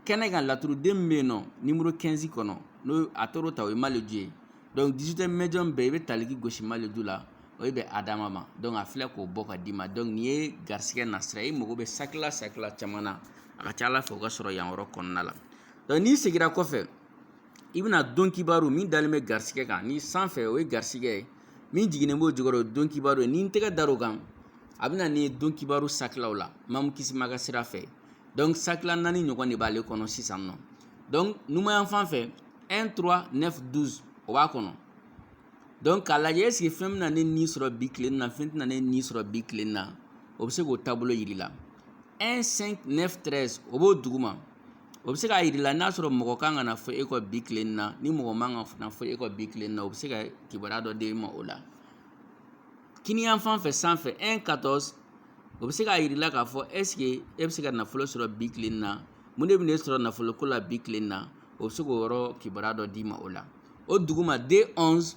[SPEAKER 1] kɛnɛ kan laturuden min bɛ yen nɔ nimoro 15 kɔnɔ n'o a taar'o ta o ye maleju ye donc 18e maison bɛɛ i bɛ taliki gosi maleju la o ye bɛn adama ma donc a filɛ k'o bɔ ka d'i ma donc nin ye garisigɛ nasira ye i mago bɛ sakila sakila caman na a ka ca a la fɛ o ka sɔrɔ yan yɔrɔ kɔnɔna la donc n'i seginna kɔfɛ i bɛna don kibaru min dalen bɛ garisigɛ kan ni sanfɛ o ye garisigɛ ye min jiginnen b'o jukɔrɔ o ye don kibaru ye ni n tɛgɛ dar'o kan a bɛna n'i ye don kibaru sakilaw la mamu kisima ka sira fɛ donc sakila naani ɲɔgɔn de b'ale kɔnɔ sisan nɔ donc numanyan fan fɛ 1 3 9 12 o b'a kɔnɔ donc k'a lajɛ est-ce que fɛn bɛna ne ni sɔrɔ bi tile na fɛn tɛna ne ni sɔrɔ bi tile na o bɛ se k'o taabolo yir'i la 1 5 9 13 o b'o duguma O bɛ se k'a yira i la n'a sɔrɔ mɔgɔ kan ka na fɔ e kɔ bi tilen na ni mɔgɔ man kan ka na fɔ e kɔ bi tilen na o bɛ se ka kibaruya dɔ d'e ma o la kiniyan fan fɛ sanfɛ un quatorze o bɛ se k'a yira i la k'a fɔ est-ce que e bɛ se ka nafolo sɔrɔ bi tilen na mun de bɛn'e sɔrɔ nafolo ko la bi tilen na o bɛ se k'o yɔrɔ kibaruya dɔ d'i ma o la o duguma deux onze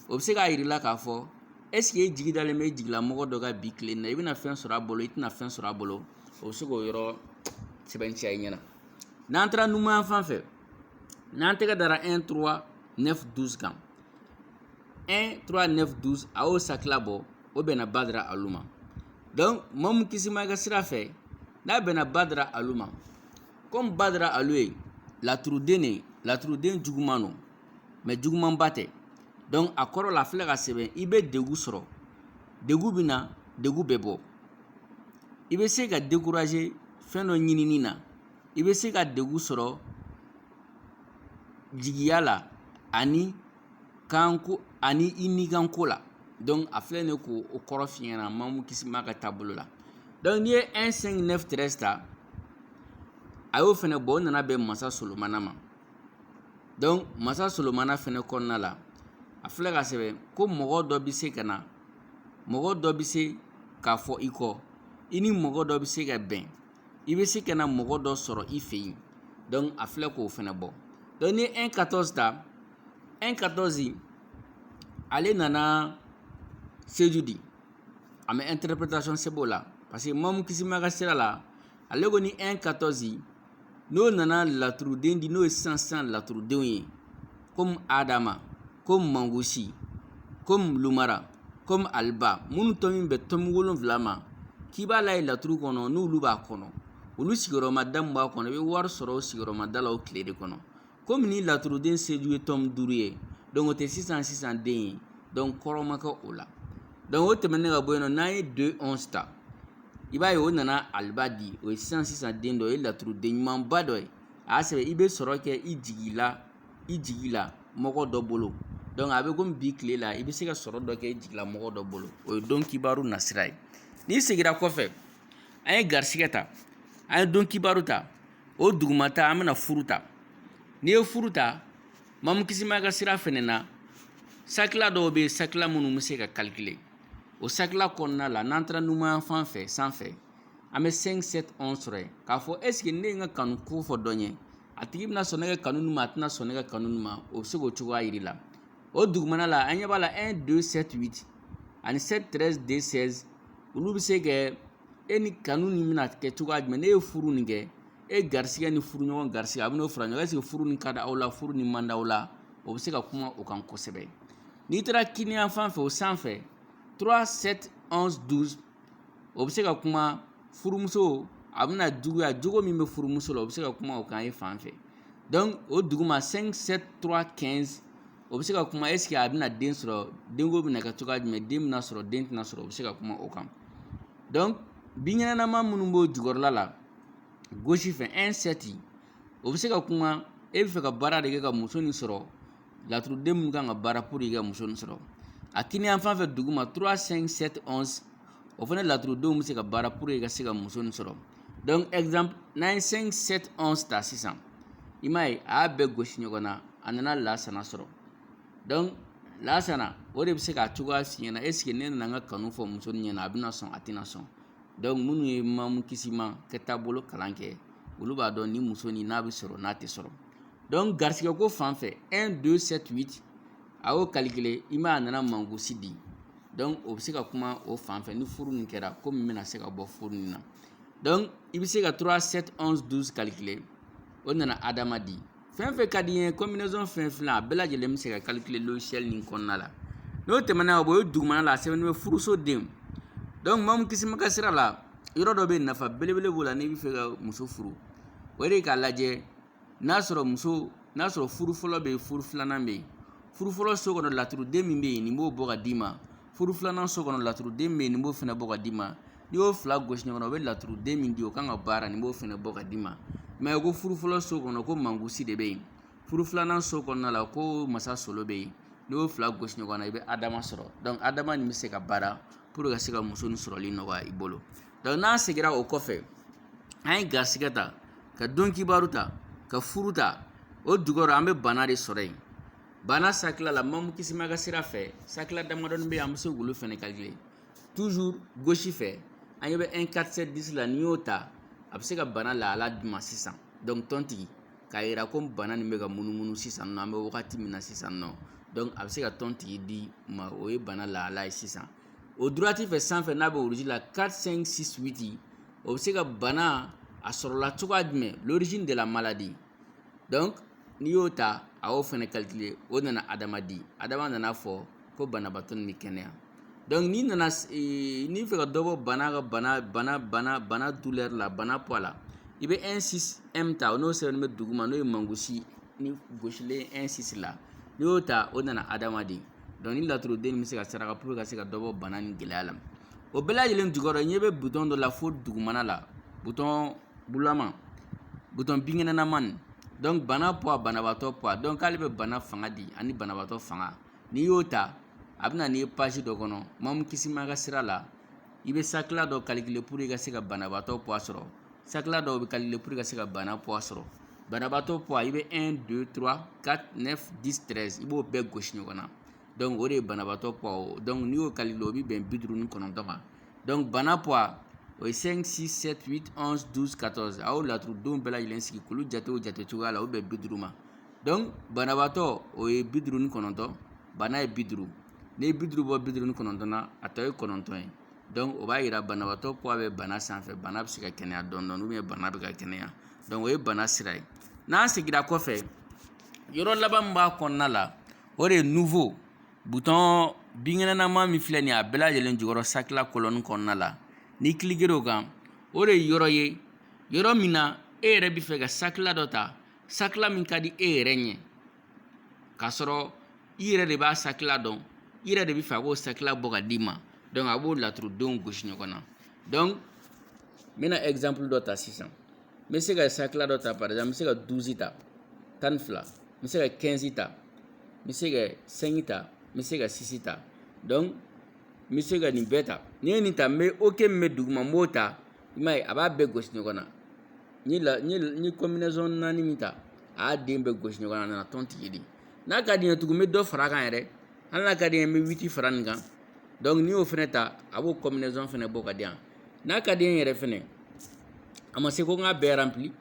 [SPEAKER 1] o bɛ se k'a yira i la k'a fɔ est-ce que e jigi dalen bɛ i jigilamɔgɔ dɔ kan bi tilen na i bɛna fɛn sɔrɔ a bolo i tɛna fɛn sɔrɔ a bolo o bɛ se k'o yɔrɔ sɛbɛntiya i ɲɛna n'an taara numan fan fɛ n'an tɛgɛ dara un trois neuf douze kan un trois neuf douze a y'o sakila bɔ o bɛnna badara alu ma donc mamu kisima ka sira fɛ n'a bɛnna badara alu ma komi badara alu ye laturuden de ye laturuden juguman don mais jugumanba tɛ donc a kɔrɔ la a filɛ k'a sɛbɛn i bɛ degun sɔrɔ degun bɛ na degun bɛ bɔ i bɛ se ka décourager fɛn dɔ ɲinini na i bɛ se ka degun sɔrɔ jigiya la ani kanko ani i nikanko la donc a filɛ nin ye k'o kɔrɔ f'i ɲɛna mamu kisima ka taabolo la donc n'i ye un cinq neuf treize ta a y'o fɛnɛ bɔ o nana bɛn masa solomana ma donc masa solomana fɛnɛ kɔnɔna la a filɛ k'a sɛbɛn ko mɔgɔ dɔ bɛ se ka na mɔgɔ dɔ bɛ se ka fɔ i kɔ i ni mɔgɔ dɔ bɛ se ka bɛn i bɛ se ka na mɔgɔ dɔ sɔrɔ i fɛ yen donc a filɛ k'o fɛnɛ bɔ donc ni un quatorze ta un quatorze ale nana seju di a ma interprétation sɛbɛn o la parce que mamu kisima ka sira la ale ko ni un quatorze n'o nana laturuden di n'o ye sisan sisan laturudenw ye komi adama komi mangosi komi lumara komi aliba minnu tɔmi bɛ tɔmi wolonfila ma k'i b'a la ye laturu kɔnɔ n'olu b'a kɔnɔ olu sigiyɔrɔma da min b'a kɔnɔ i bɛ wari sɔrɔ o sigiyɔrɔma da la o tile de kɔnɔ komi ni laturuden seju ye tɔmi duuru ye donc o tɛ sisan sisan den ye donc kɔrɔ ma kɛ o la donc o tɛmɛnen ka bɔ yen nɔ n'an ye deux onze ta i b'a ye o nana aliba di o ye sisan sisan den dɔ o ye laturuden ɲumanba dɔ ye a y'a sɛbɛn i bɛ sɔrɔ kɛ i jigilamɔgɔ dɔ bolo donc a bɛ komi bi tile la i bɛ se ka sɔrɔ dɔ kɛ i jigilamɔgɔ dɔ bolo o ye don kibaru nasira ye n'i seginna kɔfɛ an ye garisigɛ ta an ye don kibaru ta o dugumata an bɛna furu ta n'i ye furu ta mamu kisima ka sira fɛnɛ na sakila dɔw bɛ yen sakila minnu bɛ se ka calculer o sakila kɔnɔna la n'an taara numan fan fɛ sanfɛ an bɛ 5 7 11 sɔrɔ yen k'a fɔ est-ce que ne ye n ka kanu ko fɔ dɔ ɲɛ a tigi bɛna sɔn ne ka kanu nin ma a tɛna sɔn ne ka kanu nin ma o bɛ se k'o cogoya yira i la o dugumana la an ɲɛ b'a la 1 2 7 8 ani 7 13 2 16 olu bɛ se kɛ e ni kanu nin bɛna kɛ cogoya jumɛn n'e ye furu nin kɛ e garisigɛ ni furuɲɔgɔn garisigɛ a bɛn'o fara ɲɔgɔn kan est ce que furu nin ka di aw la furu nin man di aw la o bɛ se ka kuma o kan kosɛbɛ n'i taara kiniyan fan fɛ o sanfɛ 3 7 11 12 o bɛ se ka kuma furumuso a bɛna juguya jogo min bɛ furumuso la o bɛ se ka kuma o kan e fan fɛ donc o duguma 5 7 3 15 o bɛ se ka kuma est ce que a bɛna den sɔrɔ denko bɛna kɛ cogoya jumɛn den bɛna sɔrɔ den tɛna sɔrɔ o bɛ se ka kuma o kan donc binkɛnɛma minnu b'o jukɔrɔla la gauche fɛ 1 7 o bɛ se ka kuma e bɛ fɛ ka baara de kɛ ka muso nin sɔrɔ laturuden minnu kan ka baara pour que ka muso nin sɔrɔ a kiniyan fan fɛ duguma 3 5 7 11 o fana laturudenw bɛ se ka baara pour que ka se ka muso nin sɔrɔ donc exemple n'an ye 5 7 11 ta sisan i m'a ye a y'a bɛɛ gosi ɲɔgɔn na a nana lasana sɔrɔ donc lasana o de bɛ se k'a cogoya f'i ɲɛna est ce que ne nana n ka kanu fɔ muso nin ɲɛna a bɛna sɔn a tɛna sɔn donc minnu ye mamu kisima ka taabolo kalan kɛ olu b'a dɔn ni muso nin n'a bɛ sɔrɔ n'a tɛ sɔrɔ donc garisigɛ ko fan fɛ 1 2 7 8 a y'o calculer i ma a nana mangosi di donc o bɛ se ka kuma o fan fɛ ni furu nin kɛra ko min bɛna se ka bɔ furu nin na donc i bɛ se ka 3 7 11 12 calculer o nana adama di fɛn fɛn ka d'i ye combinaison fɛn fila a bɛɛ lajɛlen bɛ se ka calculer logiciel nin kɔnɔna la n'o tɛmɛna o ye dugumana la a sɛbɛnnen bɛ furuso den donc mamu kisima ka sira la yɔrɔ dɔ bɛ yen nafa belebele b'o la n'i bɛ fɛ ka muso furu o de ye k'a lajɛ n'a sɔrɔ muso n'a sɔrɔ furu fɔlɔ bɛ yen furu filanan bɛ yen furu fɔlɔ so kɔnɔ laturuden min bɛ yen nin b'o bɔ ka d'i ma furu filanan so kɔnɔ laturuden min bɛ yen nin b'o fana bɔ ka d'i ma n'i y'o fila gosi ɲɔgɔn na o bɛ laturuden min di o kan ka baara nin b'o fana bɔ ka d'i ma mais ko furu fɔlɔ so kɔnɔ ko mangosi de bɛ yen furu filanan so kɔnɔna la ko masa solo bɛ yen n'i y'o fila gosi ɲɔgɔn na i bɛ adama sɔrɔ donc adama nin bɛ se ka baara pour ka se ka muso nin sɔrɔli nɔgɔya i bolo donc n'an seginna o kɔfɛ an ye garisɛgɛ ta ka don kibaru ta ka furu ta o dugɔrɔ an bɛ bana de sɔrɔ yen bana sakila la mamu kisima ka sira fɛ sakila damadɔni bɛ yen an bɛ se k'olu fɛnɛ calculer toujours gauche fɛ an ɲɛ bɛ 1 4 7 10 la n'i y'o ta a bɛ se ka bana lahala d'i ma sisan donc tɔntigi k'a yira ko bana nin bɛ ka munumunu sisan nɔ an bɛ wagati min na sisan nɔ donc a bɛ se ka tɔntigi d'i ma o ye bana lahala ye sisan o droite fɛ sanfɛ n'a bɛ rouge la 4 5 6 8 o bɛ se ka bana a sɔrɔla cogoya jumɛn l'origine de la maladie donc n'i y'o ta a y'o fɛnɛ calculer o nana adama di adama nana a fɔ ko banabaatɔ nin bɛ kɛnɛya donc n'i nana n'i fɛ ka dɔ bɔ bana ka bana bana douleur la bana poids la i bɛ 1 6 m ta o n'o sɛbɛnnen bɛ duguma n'o ye mangosi ni gosilen ɛnsisi la n'i y'o ta o nana adamaden dɔnku nin laturuden nin bɛ se ka saraka puruke ka se ka dɔ bɔ bana nin gɛlɛya la o bɛɛ lajɛlen jukɔrɔ ɲɛ bɛ butɔn dɔ la fo dugumana la butɔn bulama butɔn binkɛnɛnama nin dɔnku bana poids banabaatɔ poids dɔnku ale bɛ bana fanga di ani banabaatɔ fanga n'i y'o ta a bɛ na n'i ye page dɔ kɔnɔ Mamu Kisima ka sira la i bɛ sakila dɔ kalikile puruke i ka se ka banabaatɔ poids sɔrɔ Sakila dɔw bɛ kalikile puru ka se ka bana poids sɔrɔ banabaatɔ poids i bɛ un deux trois quatre neuf dix treize i b'o bɛɛ gosi ɲɔgɔn na dɔnku o de ye banabaatɔ poids dɔnku n'i y'o kalikile o bɛ bɛn bi duuru ni kɔnɔntɔn ma dɔnku bana poids o ye cinq six sept huit onze douze quatorze a y'o laturudenw bɛɛ lajɛlen sigi k'olu jate o jate cogoya la o bɛ bi duuru ma dɔnku banabaatɔ o ye bi duuru ni kɔnɔntɔn bana ye bi duuru n'i ye bi duuru bɔ bi duuru ni kɔnɔntɔn na a tɔ ye kɔnɔntɔn ye dɔnku o b'a yira banabaatɔ poids bɛ bana sanfɛ bana bɛ se ka kɛnɛya dɔɔni dɔɔni ou bien bana bɛ ka kɛnɛya dɔnku o ye bana sira ye n'an seginna kɔfɛ yɔrɔ laban min b'a kɔnɔna la o de ye nuvo butɔn binkɛnɛnama min filɛ nin ye a bɛɛ lajɛlen jukɔrɔ sakila kɔlɔni kɔnɔna la n'i kilikera o kan o de ye yɔrɔ ye yɔrɔ min na e yɛrɛ bɛ fɛ ka sakila dɔ ta sakila min ka di e yɛrɛ ɲɛ k'a sɔrɔ i yɛrɛ de b'a sakila dɔn i yɛrɛ de bɛ fɛ a k'o sakila bɔ ka d'i ma dɔnku a b'o laturudenw gosi ɲɔgɔn na dɔnku n bɛna ɛkizanpulu dɔ ta sisan n bɛ se ka sakila dɔ ta par exemple n bɛ se ka duzi ta tan ni fila n bɛ se ka kɛnzi ta n bɛ se ka sɛngi ta n bɛ se ka sisi ta dɔnku n bɛ se ka nin bɛɛ ta n'i ye nin ta n bɛ oke min bɛ duguma n b'o ta i m'a ye a b'a bɛɛ gosi ɲɔgɔn na n ye kɔminɛzɔn naani min ta a y'a den bɛɛ gosi ɲɔgɔn na a nana tontigi di n'a ka di n ye tugun n bɛ dɔ fara a kan yɛrɛ hali n'a ka di n ye n bɛ witi fara nin kan dɔnku n'i y'o fɛnɛ ta a b'o kɔminɛzɔn fɛnɛ bɔ ka di yan n'a ka di n ye yɛrɛ fɛnɛ a ma se ko n k'a bɛɛ ranpili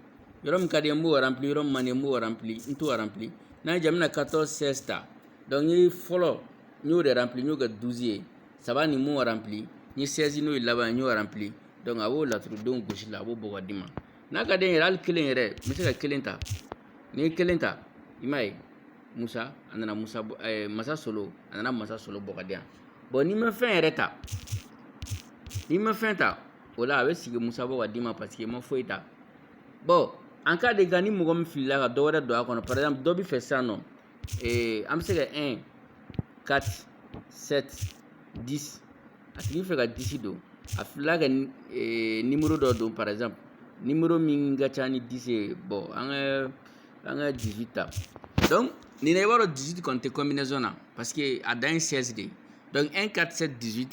[SPEAKER 1] yɔrɔ min ka di n ye n b'o ranpili yɔrɔ min man di n ye n b'o ranpili n t'o ranpili n'a ye ja n bɛna 14 16 ta n ye fɔlɔ n y'o de ranpili n y'o kɛ 12 ye saba nin n m'o ranpili n ye sɛzi n'o ye laban n y'o ranpili dɔnku a b'o laturudenw gosi la a b'o bɔ ka d'i ma n'a ka di n ye yɛrɛ hali kelen yɛrɛ n bɛ se ka kelen ta n'i ye kelen ta i m'a ye musa a nana musa masa solo a nana masa solo bɔ ka di yan bɔn n'i ma fɛn yɛrɛ ta n'i ma fɛn ta o la a bɛ sigi musa bɔ ka d'i ma paseke i ma foyi ta bɔn en cas de cas ni mɔgɔ min filila ka dɔ wɛrɛ don a kɔnɔ par exemple dɔ bɛ fɛ sisan nɔ Ee an bɛ se ka ka di a tigi fɛ ka disi don a fila kɛ ni muru dɔ don paraz ni muru min ka ca ni dise ye bɔn an ka an ka di ta dɔn nin i b'a dɔn di kɔn tɛ kɔnmbiason na pa parce que a dan in sɛsi de dɔnku e ka se di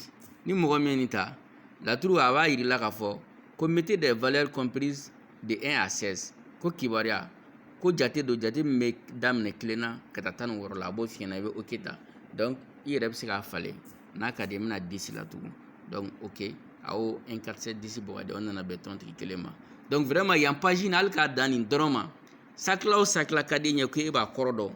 [SPEAKER 1] ni mɔgɔ min nin ta laturu a b'a jira la k kaa fɔ ko mite de vlɛre copri de un à seize ko kibaruya ko jate don jate min bɛ daminɛ kelen na ka taa tan ni wɔɔrɔ la a b'o f'i ɲɛna i bɛ oke ta donc i yɛrɛ bɛ se k'a falen n'a ka di i bɛna dix la tugun donc oke a y'o un quatre sept dix bɔ ka di o nana bɛn tɔntigi kelen ma donc vraiment yan page nin hali k'a dan nin dɔrɔn ma sakila o sakila ka d'i ɲɛ ko e b'a kɔrɔ dɔn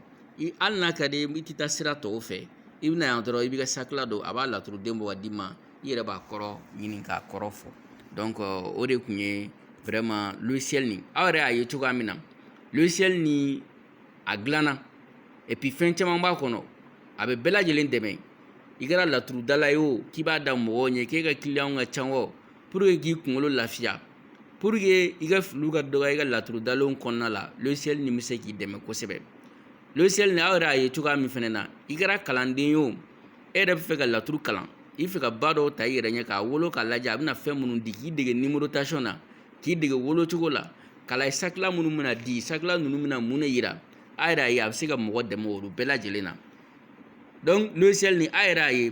[SPEAKER 1] hali n'a ka di i tɛ taa sira tɔw fɛ i bɛna yan dɔrɔn i b'i ka sakila don a b'a laturuden bɔ ka d'i ma i yɛrɛ b'a kɔrɔ ɲini k'a kɔrɔ fɔ donc o de tun ye vraiment logiciel nin aw yɛrɛ y'a ye cogoya min na logiciel nin a dilanna et puis fɛn caman b'a kɔnɔ a bɛ bɛɛ lajɛlen dɛmɛ i kɛra laturudala ye o k'i b'a da mɔgɔw ɲɛ k'e ka kiliyanw ka ca o pour que k'i kunkolo lafiya pour que i ka filiw ka dɔgɔya i ka laturudalenw kɔnɔna la logiciel nin bɛ se k'i dɛmɛ kosɛbɛ logiciel nin aw yɛrɛ y'a ye cogoya min fɛnɛ na i kɛra kalanden ye o e yɛrɛ bɛ fɛ ka laturu kalan i fɛ ka ba dɔw ta i yɛrɛ ɲɛ k'a wolo k'a lajɛ a bɛna fɛn minnu di k'i dege numérotation na k'i dege wolocogo la k'a lajɛ sakila minnu bɛna di sakila ninnu bɛna mun de yira aw yɛrɛ y'a ye a bɛ se ka mɔgɔ dɛmɛ olu bɛɛ lajɛlen na donc logiciel nin aw yɛrɛ y'a ye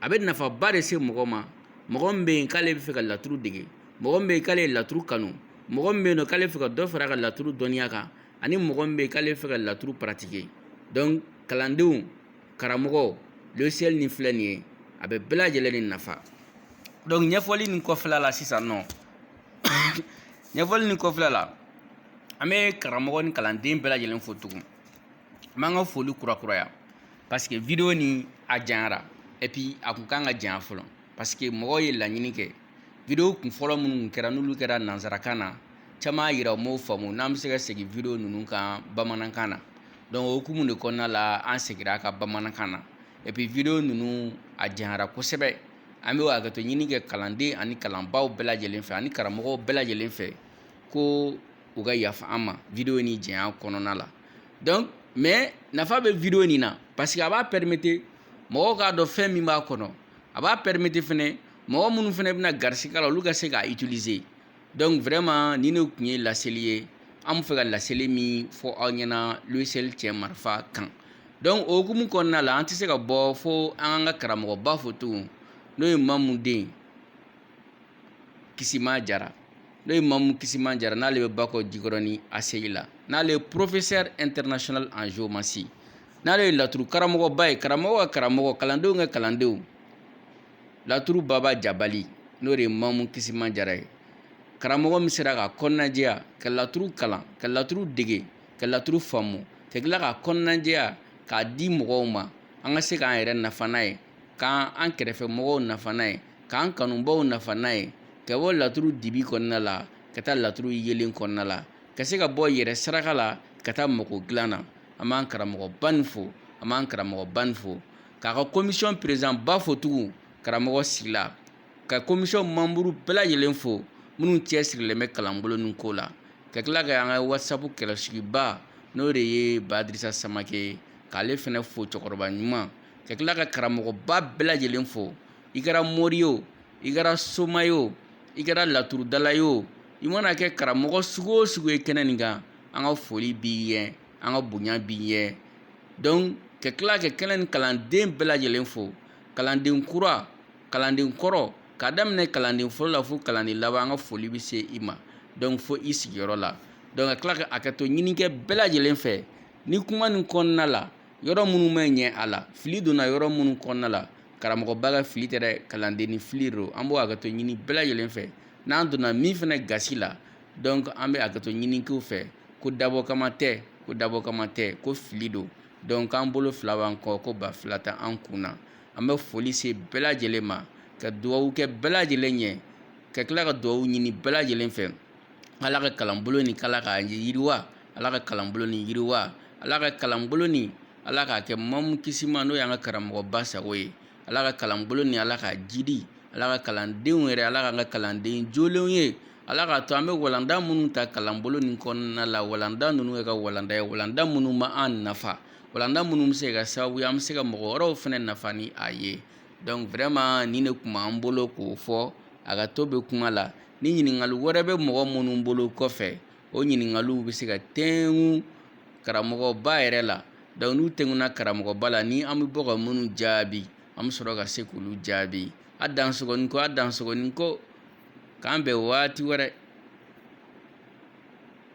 [SPEAKER 1] a bɛ nafaba de se mɔgɔ ma mɔgɔ min bɛ yen k'ale bɛ fɛ ka laturu dege mɔgɔ min bɛ yen k'ale ye laturu kanu mɔgɔ min bɛ yen nɔ k'ale bɛ fɛ ka dɔ fara a ka laturu dɔnniya kan ani mɔgɔ min bɛ yen k'ale bɛ fɛ ka laturu pratiquer donc kalandenw karamɔgɔ logiciel nin filɛ nin ye a bɛ bɛɛ lajɛlen de nafa donc ɲɛfɔli nin kɔfɛla la sisan nɔ ɲɛfɔli nin kɔfɛla la an bɛ karamɔgɔ ni kalanden bɛɛ lajɛlen fo tugun an b'an ka foli kurakuraya parce que video nin a janyara et puis a kun kan ka janya fɔlɔ parce que mɔgɔw ye laɲini kɛ video kunfɔlɔ minnu kɛra n'olu kɛra nansarakan na caman y'a yira u m'o faamu n'an bɛ se ka segin video ninnu kan bamanankan na donc o hukumu de kɔnɔna la an segira a kan bamanankan na et puis video ninnu a janyara kosɛbɛ an bɛ hakɛto ɲini kɛ kalanden ani kalanbaaw bɛɛ lajɛlen fɛ ani karamɔgɔw bɛɛ lajɛlen fɛ ko u ka yafa an ma video nin janya kɔnɔna la donc mais nafa bɛ video nin na parce que a b'a permettre mɔgɔw k'a dɔn fɛn min b'a kɔnɔ a b'a permettre fɛnɛ mɔgɔ minnu fɛnɛ bɛna garisigɛ la olu ka se k'a utiliser donc vraiment nin de tun ye laseli ye an bɛ fɛ ka laseli min fɔ aw ɲɛna logiciel cɛ marifa kan donc o hukumu kɔnɔna la an tɛ se ka bɔ fo an ka an ka karamɔgɔba fo tugun n'o ye mamu den kisima jara n'o ye mamu kisima jara n'ale bɛ bakɔ jikɔrɔni ACI la n'ale ye professeur international en géomancie n'ale ye laturu karamɔgɔba ye karamɔgɔ ka karamɔgɔ kalandenw ka kalandenw laturu baba jabali n'o de ye mamu kisima jara ye karamɔgɔ min sera ka kɔnɔnajɛya ka laturu kalan ka laturu dege ka laturu faamu ka tila ka kɔnɔnajɛya k'a di mɔgɔw ma an ka se k'an yɛrɛ nafa n'a ye ka an kɛrɛfɛ mɔgɔw nafa n'a ye k'an kanubaw nafa n'a ye ka bɔ laturu dibi kɔnɔna la ka taa laturu yelen kɔnɔna la ka se ka bɔ yɛrɛ saraka la ka taa mago dilan na an b'an karamɔgɔba nin fo an b'an karamɔgɔba nin fo k'a ka komisɔn peresidanba fo tugun karamɔgɔ sigila ka komisɔn manburu bɛɛ lajɛlen fo minnu cɛsirilen bɛ kalanbolo nin ko la ka tila ka an ka wasapu kɛlɛsigiba n'o de ye badirisa samake k'ale fɛnɛ fo cɛkɔrɔba ɲuman ka tila ka karamɔgɔba bɛɛ lajɛlen fo i kɛra mori ye o i kɛra soma ye o i kɛra laturudala ye o i mana kɛ karamɔgɔ sugu o sugu ye kɛnɛ nin kan an ka foli b'i ye an ka bonya b'i ye donc ka tila ka kɛnɛ nin kalanden bɛɛ lajɛlen fo kalanden kura kalanden kɔrɔ k'a daminɛ kalanden fɔlɔ la fo kalanden laban an ka foli bɛ se i ma donc fo i sigiyɔrɔ la donc ka tila ka hakɛto ɲini kɛ bɛɛ lajɛlen fɛ ni kuma nin kɔnɔna la yɔrɔ minnu ma ɲɛ a la fili donna yɔrɔ minnu kɔnɔna la karamɔgɔba ka fili tɛ dɛ kalandennin fili don an b'o hakɛto ɲini bɛɛ lajɛlen fɛ n'an donna min fɛnɛ gasi la donc an bɛ hakɛto ɲini kɛ u fɛ ko dabɔ kama tɛ ko dabɔ kama tɛ ko fili don donc an bolo fila b'an kɔ ko ba fila t'an kun na an bɛ foli se bɛɛ lajɛlen ma ka dugawu kɛ bɛɛ lajɛlen ɲɛ ka tila ka dugawu ɲini bɛɛ lajɛlen fɛ ala ka kalanbolo nin k'ala k'a yiriwa ala ka kalanbolo nin yiriwa ala ka kalanbolo nin ala k'a kɛ mamu kisima n'o y'an ka karamɔgɔba sago ye ala ka kalanbolo nin ala k'a jidi ala ka kalandenw yɛrɛ ala k'an ka kalanden jolenw ye Ala k'a to an bɛ walanda minnu ta kalanbolo nin kɔnɔna la walanda ninnu ye ka walanda ye walanda minnu b'an nafa walanda minnu bɛ se ka sababu ye an bɛ se ka mɔgɔ wɛrɛw fɛnɛ nafa ni a ye donc vraiment nin de tun b'an bolo k'o fɔ hakɛto bɛ kuma la ni ɲininkali wɛrɛ bɛ mɔgɔ minnu bolo kɔfɛ o ɲininkaliw bɛ se ka tɛmɛ karamɔgɔba yɛrɛ la donc n'u tɛmɛna karamɔgɔba la ni an bɛ bɔ ka minnu jaabi an bɛ sɔrɔ ka se k'olu jaabi a dansogo ni ko a dansogo ni ko k'an bɛn waati wɛrɛ